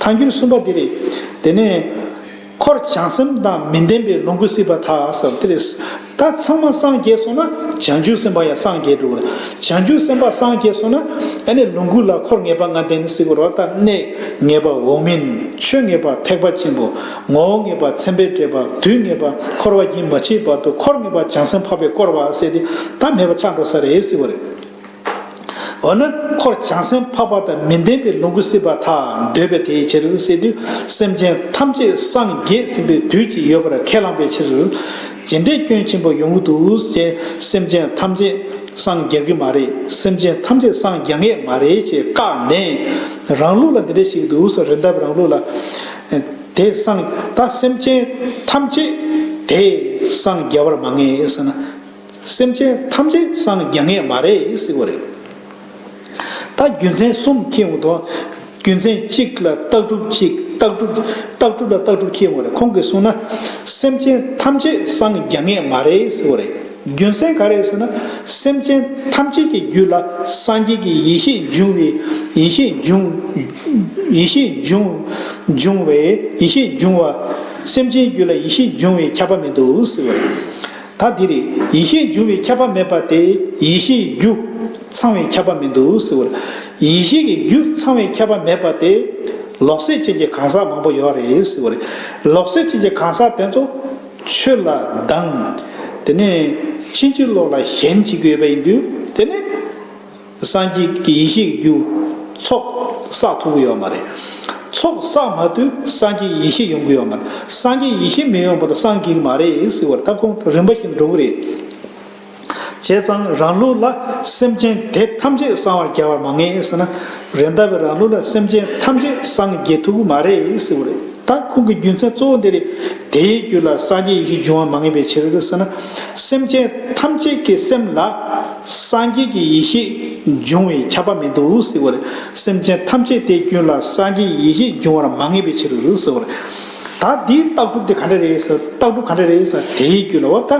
ཐལ་འགྱུར་གསུམ་པ་འདི་རེད། དེ་ནས། འཁོར་བྱང་སེམས་དང་མི་ལྡན་པའི་ལོངས་སྐུ་སྲིད་པ་དག་བསམ་སྟེ། ད་ཚང་མ་སངས་རྒྱས་སོང་ན་བྱང་ཆུབ་སེམས་དཔའ་ཡང་སངས་རྒྱས་འགྲོ། བྱང་ཆུབ་སེམས་དཔའ་སངས་རྒྱས་སོང་ན། ཨ་ནི་ལོངས་སྐུ་ལ་འཁོར་ངེས་པ་ང་ལྡན་ནི་སྲིད་པ་རོ་ད་གནས་ངེས་པ་འོག་མིན་ཆོས་ངེས་པ་ཐེག་པ་ཆེན་པོ། ངོ་བོ་ངེས་པ་མཚན་དཔེ་འབྲེལ་པ་དུས་ངེས་པ་འཁོར་བ་རྒྱུན་མ་ཆད་པར་དུ་འཁོར་ངེས་པ་བྱང་སེམས་འཕགས་པའི་བསྐོར་བ་བསྲེས་ཏེ་ད་མེད་པ་ཆགས་འགྲོ་ས་རེད་སྲིད་པ་རེད། འོ་ན་འཁོར་བྱང་སེམས་འཕགས་པ་དང་མི་ལྡན་པའི་ལོངས་སྐུ་སྲིད་པ་དག་འདོད་པས་དེའི་ཕྱིར་སྲིད་དུ་སེམས་ཅན་ཐམས་ཅད་སངས་རྒྱས་ཟིན་པའི་དུས་ཀྱི་ཡོད་པར་ཁས་བླངས་པའི་ཕྱིར། ཇི་འདྲའི་སྐྱོན་ཆེན་པོ་ཡོང་གི་འདུག་ཅེས་སེམས་ཅན་ཐམས་ཅད་སངས་རྒྱ་གི་མ་རེད་སེམས་ཅན་ཐམས་ཅད་སངས་རྒྱ་ངེས་མ་རེད་ཅེས་བཀག་ནས་རང་ལུགས་ལ་འདི་འདྲ་ཞིག་འདུག་རི་འདབས་རང་ལུགས་ལ། དེ་སངས་ད་སེམས་ཅན་ཐམས་ཅད་དེ་སངས་རྒྱ་བར་མ་ངེས་ཟེར་ན། སེམས་ཅན་ཐམས་ཅད་སངས་རྒྱ་ངེས་མ་རེད་ཟེར་བ་རེད། ད་རྒྱུ་མཚན་གསུམ་ཁྱེད་འོ་དོ། རྒྱུ་མཚན་གཅིག་ལ་རྟགས་གྲུབ་གཅིག་རྟགས་གྲུབ་རྟགས་གྲུབ་ལ་རྟགས་གྲུབ་ཁྱེད་འོ་རེད་ཁོང་གིས་གསུངས་ན། སེམས་ཅན་ཐམས་ཅད་སངས་རྒྱ་ངེས་མ་རེད་ཟེར་བ་རེད། རྒྱུ་མཚན་ག་རེད་ཟེར་ན། སེམས་ཅན་ཐམས་ཅད་ཀྱི་རྒྱུད་ལ་སངས་རྒྱས་ཀྱི་ཡེ་ཤེས་འབྱུང་བའི་ཡེ་ཤེས་འབྱུང། ཡེ་ཤེས་འབྱུང། འབྱུང་བའི་ཡེ་ཤེས་འབྱུང་བ། སེམས་ཅན་རྒྱུད་ལ་ཡེ་ཤེས་འབྱུང་བའི་ཁྱབ་པ་མི་འདུག་ཟེར་བ་རེད། ད་འདིར་ཡེ་ཤེས་འབྱུང་བའི་ཁྱབ་པ་མེད་པ་དེ་ཡེ་ཤེས་ཀྱི་རྒྱུ། ཚང་བའི་ཁྱབ་པ་མི་འདུག་ཟེར་བ་ལ། ཡེ་ཤེས་ཀྱི་རྒྱུ་ཚང་བའི་ཁྱབ་པ་མེད་པ་དེ། ལོག་སྲེད་ཅན་གྱི་གང་ཟག་མང་པོ་ཡོད་རེད་ཟེར་བ་ལས། ལོག་སྲེད་ཅན་གྱི་གང་ཟག་དེ་ཚོ། ཆོས་ལ་སྡང། དེ་ནས་ཕྱིན་ཅི་ལོག་ལ་ཞེན་བྱེད་ཀྱི་ཡོད་པ་ཡིན་དུས་དེ་ནི། སངས་རྒྱས་ཀྱི་ཡེ་ཤེས་རྒྱུ། ཚོགས་བསགས་ཐོབ་གི་ཡོད་མ་རེད། ཚོགས་བསགས་མ་དུས་སངས་རྒྱས་ཡེ་ཤེས་ཡོང་གི་ཡོད་མ་རེད། སངས་རྒྱས་ཡེ་ཤེས་མི་ཡོང་བ་དང་སངས་རྒྱས་ཀྱི་མ་རེད་ཟེར་བར་ཐབས་ཁུང་རིམ་པ་བཞིན་འགྲོ་གི་རེད། བྱས་ཙང་རང་ལུགས་ལ་སེམས་ཅན་དེ་ཐམས་ཅད་གསང་བར་རྒྱ་བར་མ་ངེས་ཟེར་ན། རེད་མདའ་བའི་རང་ལུགས་ལ་སེམས་ཅན་ཐམས་ཅད་སངས་རྒྱས་ཐུབ་གི་མ་རེད་ཟེར་བ་རེད། ད་ཁུང་གི་རྒྱུ་མཚན་གཙོ་བོ་འདི་རེད། དེའི་རྒྱུད་ལ་སངས་རྒྱས་ཡེ་ཤེས་འབྱུང་བ་མ་ངེས་པའི་ཕྱིར་ཟེར་ན། སེམས་ཅན་ཐམས་ཅད་ཀྱི་སེམས་ལ་སངས་རྒྱས་ཀྱི་ཡེ་ཤེས་འབྱུང་བའི་ཁྱབ་པ་མི་འདུག་ཟེར་བ་ལས་སེམས་ཅན་ཐམས་ཅད་དེའི་རྒྱུད་ལ་སངས་རྒྱས་ཡེ་ཤེས་འབྱུང་བར་མ་ངེས་པའི་ཕྱིར་ཟེར་བ་རེད། ད་དེའི་རྟགས་གྲུབ་དེ་ག་འདྲ་རེད་ཟེར་རྟགས་གྲུབ་ག་འདྲ་རེད་ཟེར་ན་དེའི་རྒྱུད་ལ་འོ་ད་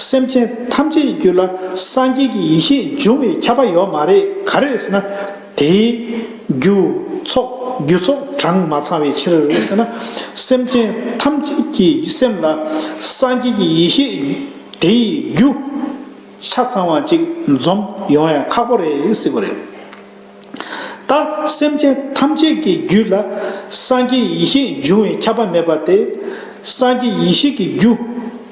སེམས་ཅན་ཐམས་ཅད་ཀྱི་རྒྱུད་ལ་སངས་རྒྱས་ཀྱི་ཡེ་ཤེས་འབྱུང་བའི་ཁྱབ་པ་ཡོད་མ་རེད་ག་རེད་ཟེར་ན། དེས། རྒྱུ། ཚོགས། རྒྱུ་ཚོགས་གྲངས་མ་ཚང་བའི་ཕྱིར། ཟེར་ན། སེམས་ཅན་ཐམས་ཅད་ཀྱི་སེམས་ལ། སངས་རྒྱས་ཀྱི་ཡེ་ཤེས་དེ་ཡི་རྒྱུ། ཆ་ཚང་བ་ཅིག་འཛོམས་ཡོང་ཡ་ཁག་པོ་རེད་སྲིད་པ་རེད། ད། སེམས་ཅན་ཐམས་ཅད་ཀྱི་རྒྱུད་ལ། སངས་རྒྱས་ཡེ་ཤེས་འབྱུང་བའི་ཁྱབ་པ་མེད་པ་དེ། སངས་རྒྱས་ཡེ་ཤེས་ཀྱི་རྒྱུ།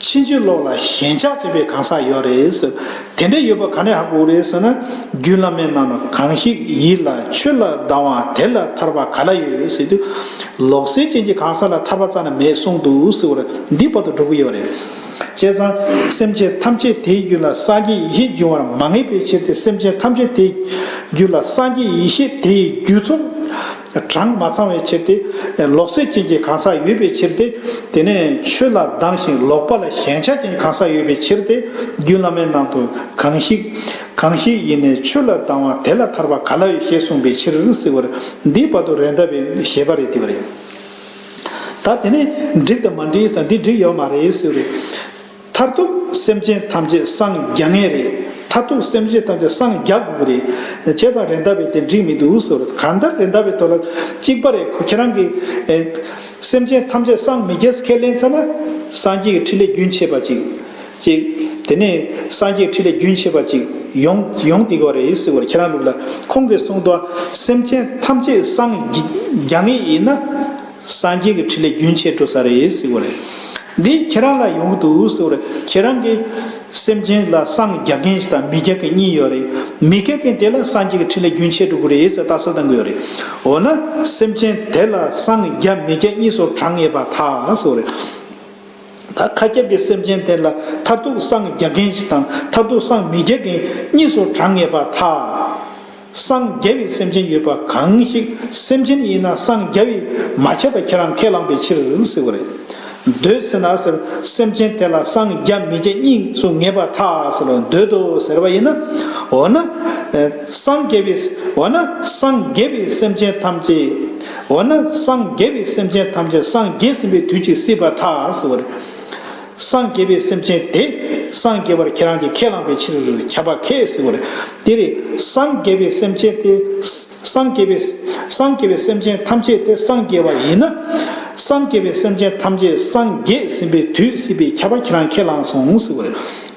ཕྱིན་ཅི་ལོག་ལ་ཞེན་ཆགས་བྱེད་པའི་གང་ཟག་ཡོད་རེད། དེ་འདྲ་ཡོད་པ་ག་ནས་ཧ་གོ་རེད་ཟེར་ན། རྒྱུད་བླ་མའི་ནང་ན་གང་ཞིག་ཡིད་ལ་ཆོས་ལ་སྡང་བ་དེ་ལ་ཐར་པ་ག་ལ་ཡོད་ཟེར་དུས། ལོག་སྲེད་ཅན་གྱི་གང་ཟག་ལ་ཐར་པ་རྩ་ན་མེད་གསུངས་འདུག་ཟེར་བར་འདི་བར་དུ་འགྲོ་གི་ཡོད་རེད། བྱས་ཙང་སེམས་ཅན་ཐམས་ཅད་དེའི་རྒྱུད་ལ་སངས་རྒྱས་ཡེ་ཤེས་འབྱུང་བར་མ་ངེས་པའི་ཕྱིར་ཏེ་སེམས་ཅན་ཐམས་ཅད་དེའི་རྒྱུད་ལ་སངས་རྒྱས་ཡེ་ཤེས་དེའི་རྒྱུད་ཚོགས། གྲངས་མ་ཚང་བའི་ཕྱིར་ཏེ། ལོག་སྲེད་ཅན་གྱི་གང་ཟག་ཡོད་པའི་ཕྱིར་ཏེ། དེ་ནས་ཆོས་ལ་སྡང་ཞིང་ལོག་པ་ལ་ཞེན་ཆགས་ཅན་གང་ཟག་ཡོད་པའི་ཕྱིར་ཏེ། རྒྱུད་བླ་མའི་ནང་དུ་གང་ཞིག། གང་ཞིག་ཡེ་ནས་ཆོས་ལ་སྡང་བ་དེ་ལ་ཐར་པ་ག་ལ་ཡོད་ཞེས་གསུངས་པའི་ཕྱིར་ཟེར་བར་འདིའི་བར་དུ་རས་འདབ་པའི་ཞེས་པ་རེ་བསྡུས་པ་རེད། ད་དེ་ནས་འགྲིག་དང་མ་འགྲིག་ཟེར་འདི་འགྲིག་ཡོད་མ་རེད་ཟེར་བའི། མཐར་ཐུག་སེམས་ཅན་ཐམས་ཅད་སངས་རྒྱ་ངེས་རེད། མཐར་ཐུག་སེམས་ཅན་ཐམས་ཅད་སངས་རྒྱ་དགོས་ཀྱི་རེད། ཁྱེད་དང་རེད་འདའ་བས་དེ་འགྲིག་མི་འདུག་ཟེར་བ་གང་ལྟར་རེད་འདའ་བས་དོ་ལ་གཅིག་པ་རེད་ཁོ་ཁྱེད་རང་གི། སེམས་ཅན་ཐམས་ཅད་སངས་མི་རྒྱས་ཁས་ལེན་ཚར་ན། སངས་རྒྱས་ཀྱི་ཁྲིད་ལས་རྒྱུན་ཆད་པ་གཅིག། གཅིག། དེ་ནས་སངས་རྒྱས་ཁྲིད་ལས་རྒྱུན་ཆད་པ་གཅིག་ཡོང་ཡོང་དེ་གོ་རེད་ཟེར་བ་ཁྱེད་རང་ལུགས་ལ་ཁོང་གིས་གསུངས་དོ་སེམས་ཅན་ཐམས་ཅད་སངས་རྒྱ་ངེས་ཡིན་ན། སངས་རྒྱས་ཀྱི་ཁྲིད་ལས་རྒྱུན་ཆད་འགྲོ་ས་རེད་ཟེར་བ་རེད། འདི་ཁྱེད་རང་ལ་ཡོང་གི་འདུག་ཟེར་བ་རེད། ཁྱེད་རང་གི་སེམས་ཅན་ལ་སངས་རྒྱ་མཁན་ཞིག་དང་མི་རྒྱ་མཁན་གཉིས་ཡོད་རེད། མི་རྒྱ་མཁན་དེ་ལ་སངས་རྒྱས་ཀྱི་འཕྲིན་ལས་རྒྱུན་ཆད་འགྲོ་གི་རེད་ཟེར་ལྟ་ས་དང་གི་ཡོད་རེད། འོ་ན་སེམས་ཅན་དེ་ལ་སངས་རྒྱ་མི་རྒྱ་གཉིས་སུ་གྲགས་ངེས་པ་ད་ཟེར་བ་རེད། ད་ཁ་ཁྱབ་ཀྱི་སེམས་ཅན་དེ་ལ་མཐར་ཐུག་སངས་རྒྱ་མཁན་ཞིག་དང་མཐར་ཐུག་སངས་མི་རྒྱ་མཁན་གཉིས་སུ་གྲགས་ངེས་པ་ད། སངས་རྒྱ་བའི་སེམས་ཅན་ཡོད་པ་གང་ཞིག་སེམས་ཅན་ཡིན་ན་སངས་རྒྱ་བས་མ་བྱས་པ་ཁྱེད་རང་ཁས་བླངས་པའི་ཕྱིར་ཟེར་བ་རེད། འདོད་ཟེར་ན་ཟེར་སེམས་ཅན་དེ་ལ་སངས་རྒྱ་མི་བྱེད་གཉིས་སུ་ངེས་པ་ཐག་ཟེར་བ་འདོད་དོ་ཟེར་བ་ཡིན་ན། འོ་ན། སངས་རྒྱ་བས། འོ་ན་སངས་རྒྱ་བས་སེམས་ཅན་ཐམས་ཅད། འོ་ན་སངས་རྒྱ་བས་སེམས་ཅན་ཐམས་ཅད་སངས་རྒྱས་ཟིན་པའི་དུས་ཀྱི་སྲིད་པ་ཐག་ཟེར་བ་རེད། སངས་རྒྱས་པའི་སེམས་ཅན་དེ། སངས་རྒྱས་པར་ཁྱེད་རང་གིས་ཁས་བླངས་པའི་ཕྱིར། ཁྱབ་པ་ཁས་ཟེར་བ་ལས། དེ་ལས། སངས་རྒྱས་པའི་སེམས་ཅན་དེ། སངས་རྒྱས་པའི། སངས་རྒྱས་པའི་སེམས་ཅན་ཐམས་ཅད་དེ་སངས་རྒྱས་པ་ཡིན་ན། སངས་རྒྱས་པའི་སེམས་ཅན་ཐམས་ཅད་སངས་རྒྱས་ཟིན་པའི་དུས་སྲིད་པའི་ཁྱབ་པ་ཁྱེད་རང་ཁས་བླངས་སོང་ཟེར་བ་ལས།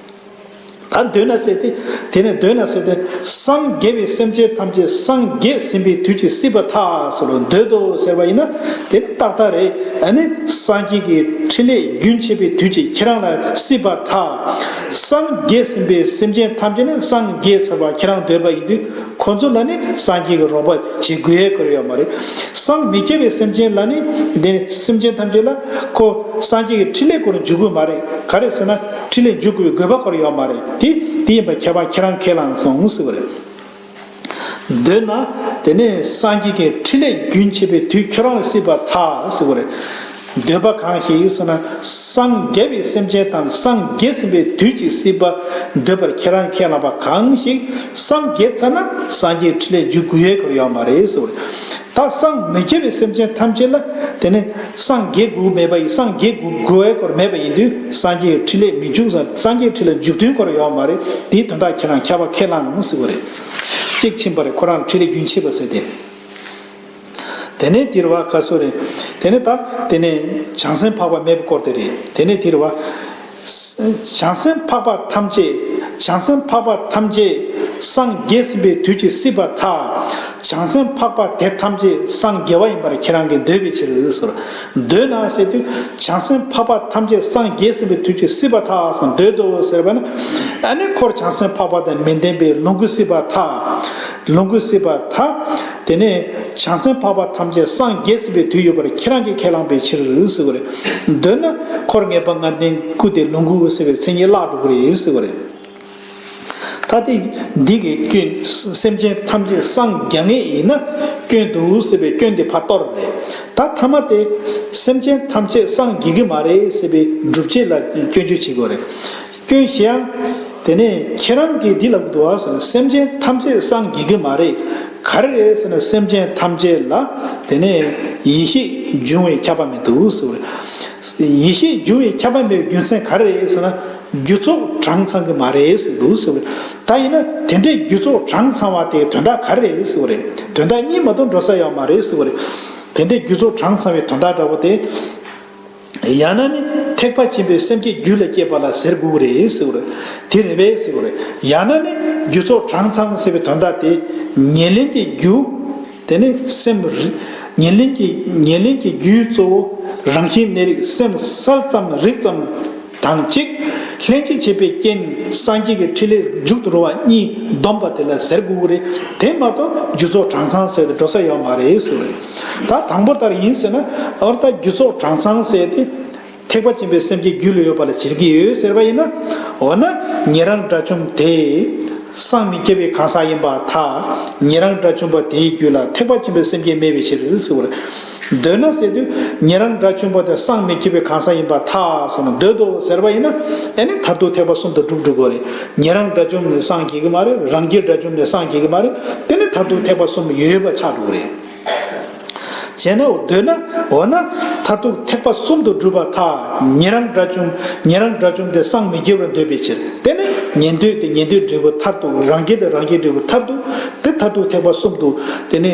ད་འདོད་ན་སྲེད་དེ། དེ་ནས་འདོད་ན་སྲེད་དེ། སངས་རྒྱས་པའི་སེམས་ཅན་ཐམས་ཅད་སངས་རྒྱས་ཟིན་པའི་དུས་ཀྱི་སྲིད་པ་ཐག་སོ་ལོ་འདོད་དོ་ཟེར་བ་ཡིན་ན་དེ་ནི་རྟག་རྟག་རེད་ཨ་ནི་སངས་རྒྱས་ཀྱི་ཕྲིན་ལས་རྒྱུན་ཆད་པའི་དུས་ཀྱི་ཁྱེད་རང་ལ་སྲིད་པ་ཐག། སངས་རྒྱས་ཟིན་པའི་སེམས་ཅན་ཐམས་ཅད་ནི་སངས་རྒྱས་ཟེར་བ་ཁྱེད་རང་འདོད་པ་ཡིན་དུས་ཁོ་ཚོ་ལ་ནི་སངས་རྒྱས་ཀྱི་རོགས་པ་བྱེད་དགོས་ཡ་གོལ་ཡོད་མ་རེད། སངས་མི་རྒྱས་པའི་སེམས་ཅན་ལ་ནི་དེ་ནི་སེམས་ཅན་ཐམས་ཅད་ལ་ཁོ་སངས་རྒྱས་ཀྱི་ཕྲིན་ལས་སྐོར་འཇུག་དགོས་མ་རེད་ག་རེ་ཟེར་ན། ཁྲི་ལས་འཇུག་དགོས་དགོས་པ་སྐོར་ཡོད་མ་རེད་དེ་དེ་ཡིན་པ་ཁྱད་པར་ཁྱེད་རང་ཁས་བླངས་སོང་ཟེར་བ་རེད། འདོད་ན། དེ་ནས་སངས་རྒྱས་ཀྱི་ཁྲི་ལས་རྒྱུན་ཆད་པའི་དུས་ཁྱོད་རང་ལ་སྲིད་པར་ཐག་ཟེར་བ་རེད། འདོད་པ་གང་ཞིག་ཟེར་ན་སངས་རྒྱས་པའི་སེམས་ཅན་དང་སངས་རྒྱས་ཟིན་པའི་དུས་ཀྱི་སྲིད་པ་འདོད་པར་ཁྱེད་རང་ཁས་བླངས་པ་གང་ཞིག་སངས་རྒྱས་ཚར་ན་སངས་རྒྱས་ཁྲི་ལས་འཇུག་དགོས་ཡོད་སྐོར་ཡོད་མ་རེད་ཟེར་བ་རེད། ད་སངས་མི་རྒྱས་པའི་སེམས་ཅན་ཐམས་ཅད་ལ་དེ་ནི་སངས་རྒྱས་དགུ་མེད་པ་ཡིན་སངས་རྒྱས་དགུ་དགུ་བའི་སྐོར་མེད་པ་ཡིན་དུས་སངས་རྒྱས་ཁྲི་ལས་མི་འཇུག་སངས་རྒྱས་ཁྲི་ལ་འཇུག་དོན་སྐོར་ཡོད་མ་རེད་དེའི་དོན་དག་ཁྱེད་རང་ཁ་བ་ཁས་བླངས་ནང་སྲིད་པ་རེད། གཅིག་ཕྱིན་པ་རེད་ཁོ་རང་ལ་ཁྲི་ལས་རྒྱུན་ཆད་པ་ཟེར་ཏེ། དེ་ནས་དེར་བ་ཁ་སོ་རེད་དེ་ནས་ད་དེ་ནས་བྱང་སེམས་འཕགས་པ་མེད་པའི་སྐོར་དེ་རེད་དེ་ནས་དེར་བ། བྱང་སེམས་འཕགས་པ་ཐམས་ཅད་བྱང་སེམས་འཕགས་པ་ཐམས་ཅད་སངས་རྒྱས་ཟིན་པའི་དུས་ཀྱི་སྲིད་པ་མཐའ། བྱང་སེམས་འཕགས་པ་དེ་ཐམས་ཅད་སངས་རྒྱས་བ་ཡིན་པར་ཁྱེད་རང་གིས་འདོད་པའི་ཕྱིར། འདོད་ན་ཟེར་དུས་བྱང་སེམས་འཕགས་པ་ཐམས་ཅད་སངས་རྒྱས་ཟིན་པའི་དུས་ཀྱི་སྲིད་པ་མཐའ་སོགས་འདོད་དོ་ཟེར་བ་ན། ཨ་ནི་འཁོར་བྱང་སེམས་འཕགས་པ་དང་མི་ལྡན་པའི་ལོངས་སྐུ་སྲིད་པ་མཐའ། ལོངས་སྐུ་སྲིད་པ་དག། དེ་ནས་བྱང་སེམས་འཕགས་པ་ཐམས་ཅད་སངས་རྒྱས་སྲིད་པའི་དུས་ཡོད་པར་ཁྱེད་རང་གིས་ཁས་བླངས་པའི་ཕྱིར་ཟེར་བ་རེད། འདོད་ན། འཁོར་ངེས་པ་ལྔ་ལྡན་སྐུ་དེ་ལོངས་སྐུ་འོད་གསལ་བའི་མཚན་ཉིད་བརླག་འགྲོ་གི་རེད་ཟེར་བ་རེད། ད་ལྟའི་འདི་གི་སྐྱོན། སེམས་ཅན་ཐམས་ཅད་སངས་རྒྱ་ངེས་ཡིན་ན། སྐྱོན་འདུག་ཟེར་བའི་སྐྱོན་དེ་ཕ་གཏོགས་རེད། ད་ཐ་མ་སྟེ། སེམས་ཅན་ཐམས་ཅད་སངས་རྒྱས་ཀྱི་མ་རེད་ཟེར་བའི་སྒྲུབ་བྱེད་ལ་སྐྱོན་བརྗོད་བྱེད་དགོས་རེད། སྐྱོན་བཤད་ཨང། དེ་ནས་ཁྱེད་རང་གིས་འདི་ལ་བུ་དུ་ཟེར་ན་སེམས་ཅན་ཐམས་ཅད་སངས་རྒྱས་ཀྱི་མ་རེད། ག་རེ་རེད་ཟེར་ན་སེམས་ཅན་ཐམས་ཅད་ལ་དེ་ནས་ཡེ་ཤེས་འབྱུང་བའི་ཁྱབ་པ་མེད་དོ་ཟེར་བ་རེད། ཡེ་ཤེས་འབྱུང་བའི་ཁྱབ་པ་མེད་པའི་རྒྱུ་མཚན་ག་རེ་རེད་ཟེར་ན་རྒྱུ་ཚོགས་གྲངས་ཚང་གི་མ་རེད་ཟེར་འདུག་ཟེར་བ་རེད། ད་ཡིན་ན་དེ་འདྲའི་རྒྱུ་ཚོགས་གྲངས་ཚང་བ་དེ་དོན་དག་ག་རེ་རེད་ཟེར་བ་རེད། དོན་དག་གཉིས་མ་གཏོགས་འགྲོ་ས་ཡོད་མ་རེད་ཟེར་བ་རེད། དེ་འདྲའི་རྒྱུ་ཚོགས་གྲངས་ཚང་བའི་དོན་དག་འདྲ་བོ་དེ། ཡང་ན་ནི་ཐེག་པ་ཆེན་པོའི་སེམས་ཀྱི་རྒྱུད་ལ་སྐྱེས་པ་ལ་ཟེར་དགོས་ཀྱི་རེད་ཟེར་བ་རེད། དེ་རེ་བས་ཟེར་བ་རེད། ཡང་ན་ནི་རྒྱུ་ཚོགས་གྲངས་ཚང་ཟེར་བའི་དོན་དག་དེ། ཉེར་ལེན་གྱི་རྒྱུ། དེ་ནི་སེམས་རིག། ཉེར་ལེན་གྱི་ཉེར་ལེན་གྱི་རྒྱུའི་གཙོ་བོ། རང་བཞིན་གནས་རིག་སེམས་གསལ་ཙམ་རིག་ཙམ། དང་གཅིག། ལྷན་ཅིག་བྱེད་པའི་རྐྱེན་སངས་རྒྱས་ཀྱི་ཕྲིན་ལས་མཇུག་ཏུ་འགྲོ་བ་གཉིས་བསྡོམས་པ་དེ་ལ་ཟེར་དགོས་ཀྱི་རེད་དེ་མ་གཏོགས་རྒྱུ་ཚོགས་གྲངས་ཚང་བསལ་ཏེ་འགྲོ་ས་ཡོད་མ་རེད་ཟེར་བ་ཡིན། ད་དང་པོ་ལྟར་ཡིན་ཟེར་ན་འོ་ད་རྒྱུ་ཚོགས་གྲངས་ཚང་བསལ་ཏེ། ཐེག་པ་ཆེན་པོའི་སེམས་ཀྱི་རྒྱུད་ལ་ཡོད་པ་ལ་བྱེད་ཀྱི་ཡོད་ཟེར་བ་ཡིན་ན། འོ་ན་ཉན་རང་དགྲ་བཅོམ་དེ། སངས་མི་རྒྱས་པའི་གང་ཟག་ཡིན་པ་དག་ཉན་རང་དགྲ་བཅོམ་པ་དེའི་རྒྱུད་ལ་ཐེག་པ་ཆེན་པོའི་སེམས་ཅན་མེད་པའི་ཕྱིར་ཟེར་བ་རེད། འདོད་ན་ཟེར་དུས་ངེད་རང་འདྲ་ཆུན་པོ་དེ་སངས་མི་འཁྱིལ་བའི་གང་ཟག་ཡིན་པར་ཐག་ཟེར་ན་འདོད་དོ་ཟེར་བ་ཡིན་ན་དེ་ནི་མཐར་ཐུག་ཐེག་པ་གསུམ་དུ་གྲུབ་འགྲོ་དགོས་རེད་ངེད་རང་འདྲ་ཆུང་ནས་སངས་འཁྱིལ་གི་མ་རེད་རང་སྐྱིད་འདྲ་ཆུང་ནས་སངས་འཁྱིལ་གི་མ་རེད་དེ་ནི་མཐར་ཐུག་ཐེག་པ་གསུམ་ཡོད་པ་ཆགས་འགྲོ་གི་རེད། བྱས་ན་འདོད་ན་འོ་ན་མཐར་ཐུག་ཐེག་པ་གསུམ་དུ་གྲུབ་པར་ཐག་ངེད་རང་འདྲ་ཆུང་ངེད་རང་འདྲ་ཆུང་དེ་སངས་མི་འཁྱིལ་བར་འདོད་པའི་ཕྱིར་དེ་ནི་ངེད་འདོད་དེ་ངེད་འདོད་འབྲས་བུ་མཐར་ཐུག་རང་སྐྱིད་དེ་རང་སྐྱིད་འབྲས་བུ་མཐར་ཐུག་དེ་མཐར་ཐུག་ཐེག་པ་གསུམ་དུ་དེ་ནི།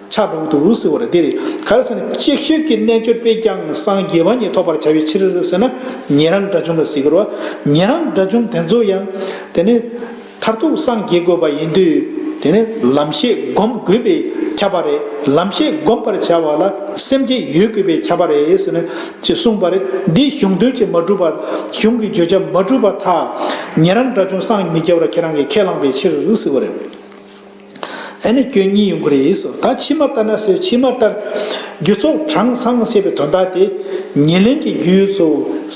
ཕྱག་དྲུག་ཏུ་བསྲི་བར་འདིར་གར་ཟེར་ན་ཅིག་ཤོས་ཀྱི་རྣལ་འབྱོར་པས་ཀྱང་སངས་རྒྱས་བ་ཉིད་ཐོབ་པར་བྱ་བའི་ཕྱིར་ཟེར་ན་ཉན་རང་དགྲ་བཅོམ་ལ་གཟིགས་དགོས་པ་ཉན་རང་དགྲ་བཅོམ་དེ་ཚོ་ཡང་དེ་ནི་མཐར་ཐུག་སངས་རྒྱས་དགོས་པ་ཡིན་དུས་དེ་ནི་ལམ་ཤེས་བསྒོམ་དགོས་པས་ཁྱབ་པ་རེད་ལམ་ཤེས་བསྒོམ་པར་བྱ་བ་ལ་སེམས་བསྐྱེད་ཡོད་དགོས་པས་ཁྱབ་པ་རེད་ཟེར་ན་ཅེས་གསུངས་པ་རེད་འདིས་གཞུང་དོན་གྱི་མ་གྲུབ་པ་གཞུང་གི་བརྗོད་བྱ་མ་གྲུབ་པ་དག་ཉན་རང་དགྲ་བཅོམ་སངས་མི་རྒྱ་བར་ཁྱེད་རང་གིས་ཁས་བླངས་པའི་ཕྱིར་གཟིགས་པ་རེད། ཨེ་ནི་སྐྱོན་གཉིས་ཡོང་གི་རེད་ཟེར་བ་ད་ཕྱི་མ་ལྟར་ན་ཟེར་ཕྱི་མ་ལྟར། རྒྱུ་ཚོགས་གྲངས་སངས་ཟེར་བའི་དོན་དག་དེ། ཉེར་ལེན་གྱི་རྒྱུ་ཡོད་ཚོ་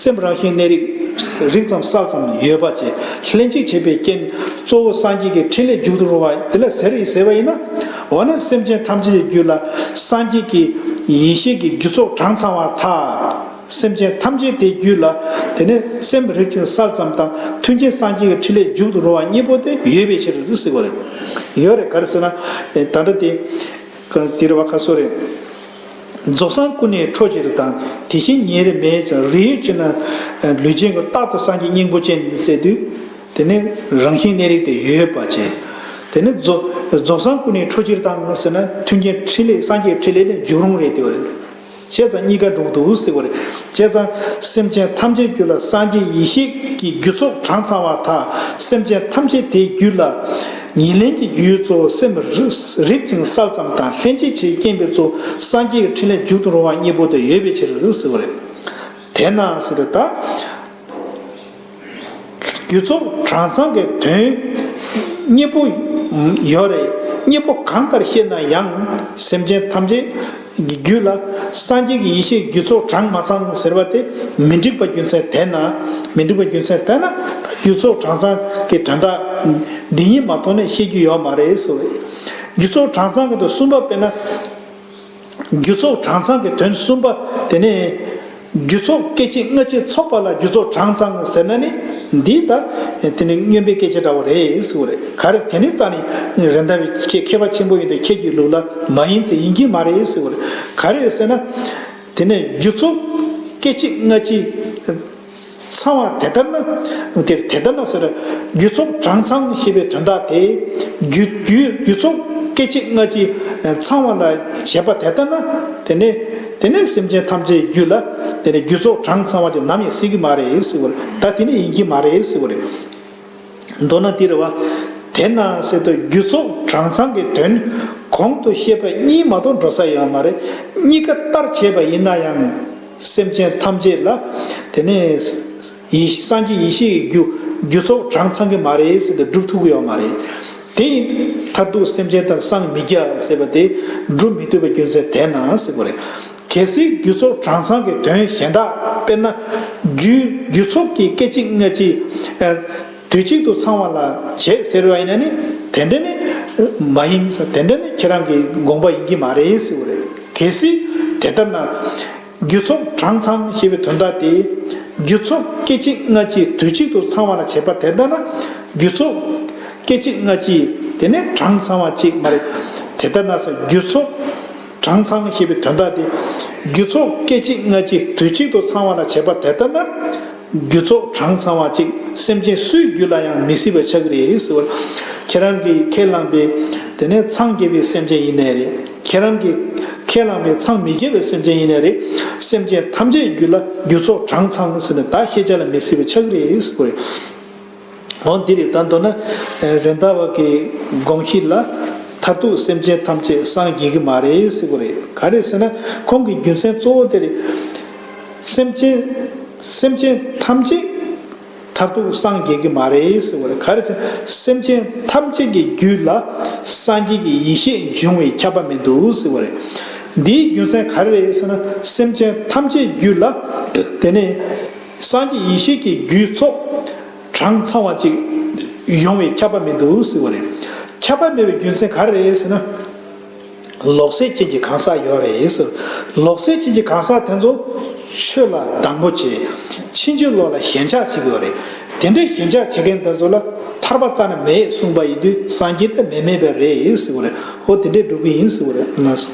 སེམས་རང་བཞིན་གནས་རིགས། རིགས་ཙམ་བསགས་ཙམ་ཡོད་པ་བཅས་ལྷན་ཅིག་བྱེད་པའི་རྐྱེན་གཙོ་བོ་སངས་རྒྱས་ཀྱི་འཕྲིན་ལས་འཇུག་ཏུ་རུང་བ་དེ་ལ་ཟེར་རེད་ཟེར་བ་ཡིན་ན། འོ་ན་སེམས་ཅན་ཐམས་ཅད་ཀྱི་རྒྱུད་ལ་སངས་རྒྱས་ཀྱི་ཡེ་ཤེས་ཀྱི་རྒྱུ་ཚོགས་གྲངས་ཚང་བ་དག། སེམས་ཅན་ཐམས་ཅད་དེའི་རྒྱུད་ལ། དེ་ནས་སེམས་རེག་ཅིང་སར་ཙམ་དང་ཐུན་གྱི་སངས་རྒྱས་ཀྱི་ཕྲིན་ལས་འཇུག་ཏུ་རུང་བ་གཉིས་པོ་དེ་ཡོད་པའི་ཕྱིར་དུ་ཟེར་བ་རེད། ཡོད་རེད་ག་རེ་ཟེར་ན། ད་ལྟ་དེ། དེ་རེད་བ་ཁ་སོ་རེད། རྫོགས་སངས་ཀུན་ནས་འཕྲོ་བྱེད་རི་དང་དེ་བཞིན་ཉེ་རེ་མེད་ཅིང་རི་ཡོད་ཅེ་ན། ལུས་ཅན་གྱི་རྟག་ཏུ་སངས་རྒྱས་སྙིང་པོ་ཅན་ཟེར་དུས། དེ་ནི་རང་བཞིན་གནས་རིགས་དེ་ཡོད་པ་ཅན། དེ་ནི་རྫོགས་སངས་ཀུན་ནས་འཕྲོ་བྱེད་རི་དང་ཟེར་ན་ཐུན་གྱི་ཕྲིན་ལས་སངས་རྒྱས་ཀྱི་ཕྲིན་ལས་དེ་འཇུག་རུང་རེད་དེ་བ་རེད། བྱས་ཙང་གཉིས་ཀ་འགྲུབ་འདུག་ཟེར་བ་རེད། བྱས་ཙང་སེམས་ཅན་ཐམས་ཅད་རྒྱུད་ལ་སངས་རྒྱས་ཡེ་ཤེས་ཀྱི་རྒྱུ་ཚོགས་གྲངས་ཚང་བ་དག་སེམས་ཅན་ཐམས་ཅད་དེའི་རྒྱུད་ལ། ཉེར་ལེན་གྱི་རྒྱུའི་གཙོ་བོ་སེམས་རིག་ཅིང་བསགས་ཙམ་དང་ལྷན་ཅིག་བྱེད་རྐྱེན་པའི་གཙོ་བོ་སངས་རྒྱས་ཀྱི་ཕྲིན་ལས་འཇུག་ཏུ་རུང་བ་གཉིས་པོ་དེ་ཡོད་པའི་ཕྱིར་ཟེར་བ་རེད། དེས་ན་ཟེར་བའི་ད། རྒྱུ་ཚོགས་གྲངས་ཚང་གི་དོན། གཉིས་པོ། ཡོད་རེད། གཉིས་པོ་གང་ལྟར་བཤད་ན་ཡང། སེམས་ཅན་ཐམས་ཅད། ཀྱི་རྒྱུད་ལ། སངས་རྒྱས་ཀྱི་ཡེ་ཤེས་རྒྱུ་ཚོགས་གྲངས་མ་ཚང་ཟེར་བ་དེ། མི་འགྲིག་པ་རྒྱུ་མཚན་དེས་ན། མི་འགྲིག་པ་རྒྱུ་མཚན་དེས་ན། རྒྱུ་ཚོགས་གྲངས་ཚང་གི་དོན་དག། འདི་གཉིས་མ་མཐོང་ནས་བཤད་རྒྱུ་ཡོད་མ་རེད། རྒྱུ་ཚོགས་གྲངས་ཚང་གི་དོན་གསུམ་པ་དཔེར་ན། རྒྱུ་ཚོགས་གྲངས་ཚང་གི་དོན་གསུམ་པ་དེ་ནི། རྒྱུ་ཚོགས་སྐད་ཅིག་སྔ་ཕྱི་ཚོགས་པ་ལ་རྒྱུ་ཚོགས་གྲངས་ཚང་ཟེར་ན་ནི་འདི་ལྟ། དེ་ནི་སྨྱོན་པའི་སྐད་ཆ་འདྲ་བོ་རེད་ཟེར་བ་རེད། ག་རེ་དེ་ནི་རྩ་ནི་རེད་མདའ་བའི་ཁྱེད་མཁས་པ་ཆེན་པོ་ཡིན་དུས་ཁྱེད་ཀྱི་ལུགས་ལ་མ་ཡིན་ཚེ་ཡིན་གྱི་མ་རེད་ཟེར་བ་རེད། ག་རེ་ཟེར་ན། དེ་ནི་རྒྱུ་ཚོགས་སྐད་ཅིག་སྔ་ཕྱི། ཚང་བ་དེ་ལྟར་ན། འདིར་དེ་ལྟར་ན་ཟེར། རྒྱུ་ཚོགས་གྲངས་ཚང་ཞེས་པའི་དོན་དག་དེ། རྒྱུ་རྒྱུ་ཚོགས་སྐྱེ་མཆེད་ལྔ་སྤྱི། ཚང་བ་ལ་བྱེད་པ་དེ་ལྟར་ན། དེ་ནས་དེ་ནས་སེམས་ཅན་ཐམས་ཅད་རྒྱུ་ལ། དེ་ནས་རྒྱུ་ཚོགས་གྲངས་ཚང་བ་ཅིག་ནམ་ཡང་སྲིད་ཀྱི་མ་རེད། ད་དེ་ནས་ཡིན་གྱི་མ་རེད། མདོར་ན་འདིར་བ། དེ་ན་སེ་ཏོ་རྒྱུ་ཚོགས་གྲངས་ཚང་གི་དོན། གོང་དུ་བཤད་པ་གཉིས་མ་གཏོགས་འགྲོ་ས་ཡོད་མ་རེད། གཉིས་ཀ་ལྟར་བྱས་པ་ཡིན་ན་ཡང། སེམས་ཅན་ཐམས་ཅད་ལ། དེ་ནི། ཡེ་ཤེས་སངས་རྒྱས་ཡེ་ཤེས་ཀྱི་རྒྱུ། རྒྱུ་ཚོགས་གྲངས་ཚང་གི་མ་རེད་ཟེར་ཏེ་སྒྲུབ་ཐུབ་ཀྱི་ཡོད་མ་རེད། དེ་ཡིན། མཐར་ཐུག་སེམས་ཅན་ལྟར་སངས་མི་རྒྱ་ཟེར་བ་དེ། སྒྲུབ་མི་ཐུབ་པའི་རྒྱུ་མཚན་དེ་ན་སེ་གོ་རེད། གལ་སྲིད་རྒྱུ་ཚོགས་གྲངས་ཚང་གི་དོན་གཞན་དག་དཔེར་ན། རྒྱུའིརྒྱུ་ཚོགས་ཀྱི་སྐད་ཅིག་སྔ་ཕྱི། དུས་གཅིག་ཏུ་ཚང་བ་ལ་བྱེད་ཟེར་བ་ཡིན་ན་ནི་དེ་འདྲ་ནི། མ་ཡིན། དེ་འདྲ་ནི་ཁྱེད་རང་གི་དགོངས་པ་ཡིན་གྱི་མ་རེད་ཟེར་བ་རེད། གལ་སྲིད་དེ་ལྟར་ན། རྒྱུ་ཚོགས་གྲངས་ཚང་ཞེས་པའི་དོན་དག་དེ། རྒྱུ་ཚོགས་སྐད་ཅིག་སྔ་ཕྱི་དུས་གཅིག་ཏུ་ཚང་བ་ལ་བྱེད་པ་དེ་ལྟ་ན། རྒྱུ་ཚོགས་སྐད་ཅིག་སྔ་ཕྱི་དེ་ནི་གྲངས་ཚང་བ་གཅིག་མ་རེད། དེ་ལྟར་ན། རྒྱུ་ཚོགས། གྲངས་ཚང་ཞེས་པའི་དོན་དག་སྟེ། རྒྱུ་ཚོགས་སྐད་ཅིག་སྔ་ཕྱི་དུས་གཅིག་ཏུ་ཚང་བ་ལ་བྱེད་པ་དེ་ལྟར་ན། རྒྱུ་ཚོགས་གྲངས་ཚང་བ་ཅིག་སེམས་ཅན་སུའི་རྒྱུད་ལ་ཡང་མི་སྲིད་པ་ཆགས་ཀྱི་རེད་ཟེར་བ། ཁྱེད་རང་གིས་ཁས་བླངས་པའི། དེ་ནས་འཚང་རྒྱས་པའི་སེམས་ཅན་ཡིན་ནའི་རེད། ཁྱེད་རང་གིས་ཁས་བླངས་པའི་འཚང་མི་རྒྱས་པའི་སེམས་ཅན་ཡིན་ནའི་རེད། སེམས་ཅན་ཐམས་ཅད་རྒྱུད་ལ་རྒྱུ་ཚོགས་གྲངས་ཚང་ཟེར་ནས་བདག་ཤེས་བྱ་ལ་མི་སྲིད་པ་ཆགས་ཀྱི་རེད་ཟེར་བ། འོན་འདི་རིགས་ལྟར་འདོད་ན། རེད་མདའ་བ་གི་དགོངས་གཞི་ལ། མཐར་ཐུག་སེམས་ཅན་ཐམས་ཅད་སངས་རྒྱས་ཀྱི་མ་རེད་ཟེར་གོ་རེད་ག་རེད་ཟེར་ན། ཁོང་གི་རྒྱུ་མཚན་གཙོ་བོ་དེ་རེད། སེམས་ཅན། སེམས་ཅན་ཐམས་ཅད། མཐར་ཐུག་སངས་རྒྱས་ཀྱི་མ་རེད་ཟེར་བ་རེད་ག་རེད་ཟེར་ན། སེམས་ཅན་ཐམས་ཅད་ཀྱི་རྒྱུད་ལ། སངས་རྒྱས་ཀྱི་ཡེ་ཤེས་འབྱུང་བའི་ཁྱབ་པ་མི་འདུག་ཟེར་བ་རེད། འདིའི་རྒྱུ་མཚན་ག་རེ་རེད་ཟེར་ན། སེམས་ཅན་ཐམས་ཅད་རྒྱུད་ལ། དེ་ནས། སངས་རྒྱས་ཡེ་ཤེས་ཀྱི་རྒྱུའི་ཚོགས། གྲངས་ཚང་བ་ཅིག། ཡོང་བས་ཁྱབ་པ་མེད་དུ་གཟིགས་པ་རེད། ཁྱབ་པ་མེད་པའི་རྒྱུ་མཚན་ག་རེ་རེད་ཟེར་ན། ལོག་སྲེད་ཅན་གྱི་གང་ཟག་ཡོད་རེད་ཟེར། ལོག་སྲེད་ཅན་གྱི་གང་ཟག་དེ་ཚོ། ཆོས་ལ་སྡང་པོ་བྱེད། ཕྱིན་ཅི་ལོག་ལ་ཞེན་ཆགས་བྱེད་ཡོད་རེད། དེ་འདྲའི་ཞེན་ཆགས་བྱེད་མཁན་དེ་ཚོ་ལ། ཐར་པ་རྩ་ན་མེད་གསུངས་པ་ཡིན་དུས་སངས་རྒྱས་ཐ་མལ་མེད་པས་རེད་ཟེར་བ་རེད། ཨོ་དེ་འདྲས་འགྲོ་གི་ཡིན་ཟེར་བ་རེད་ལགས་སོ།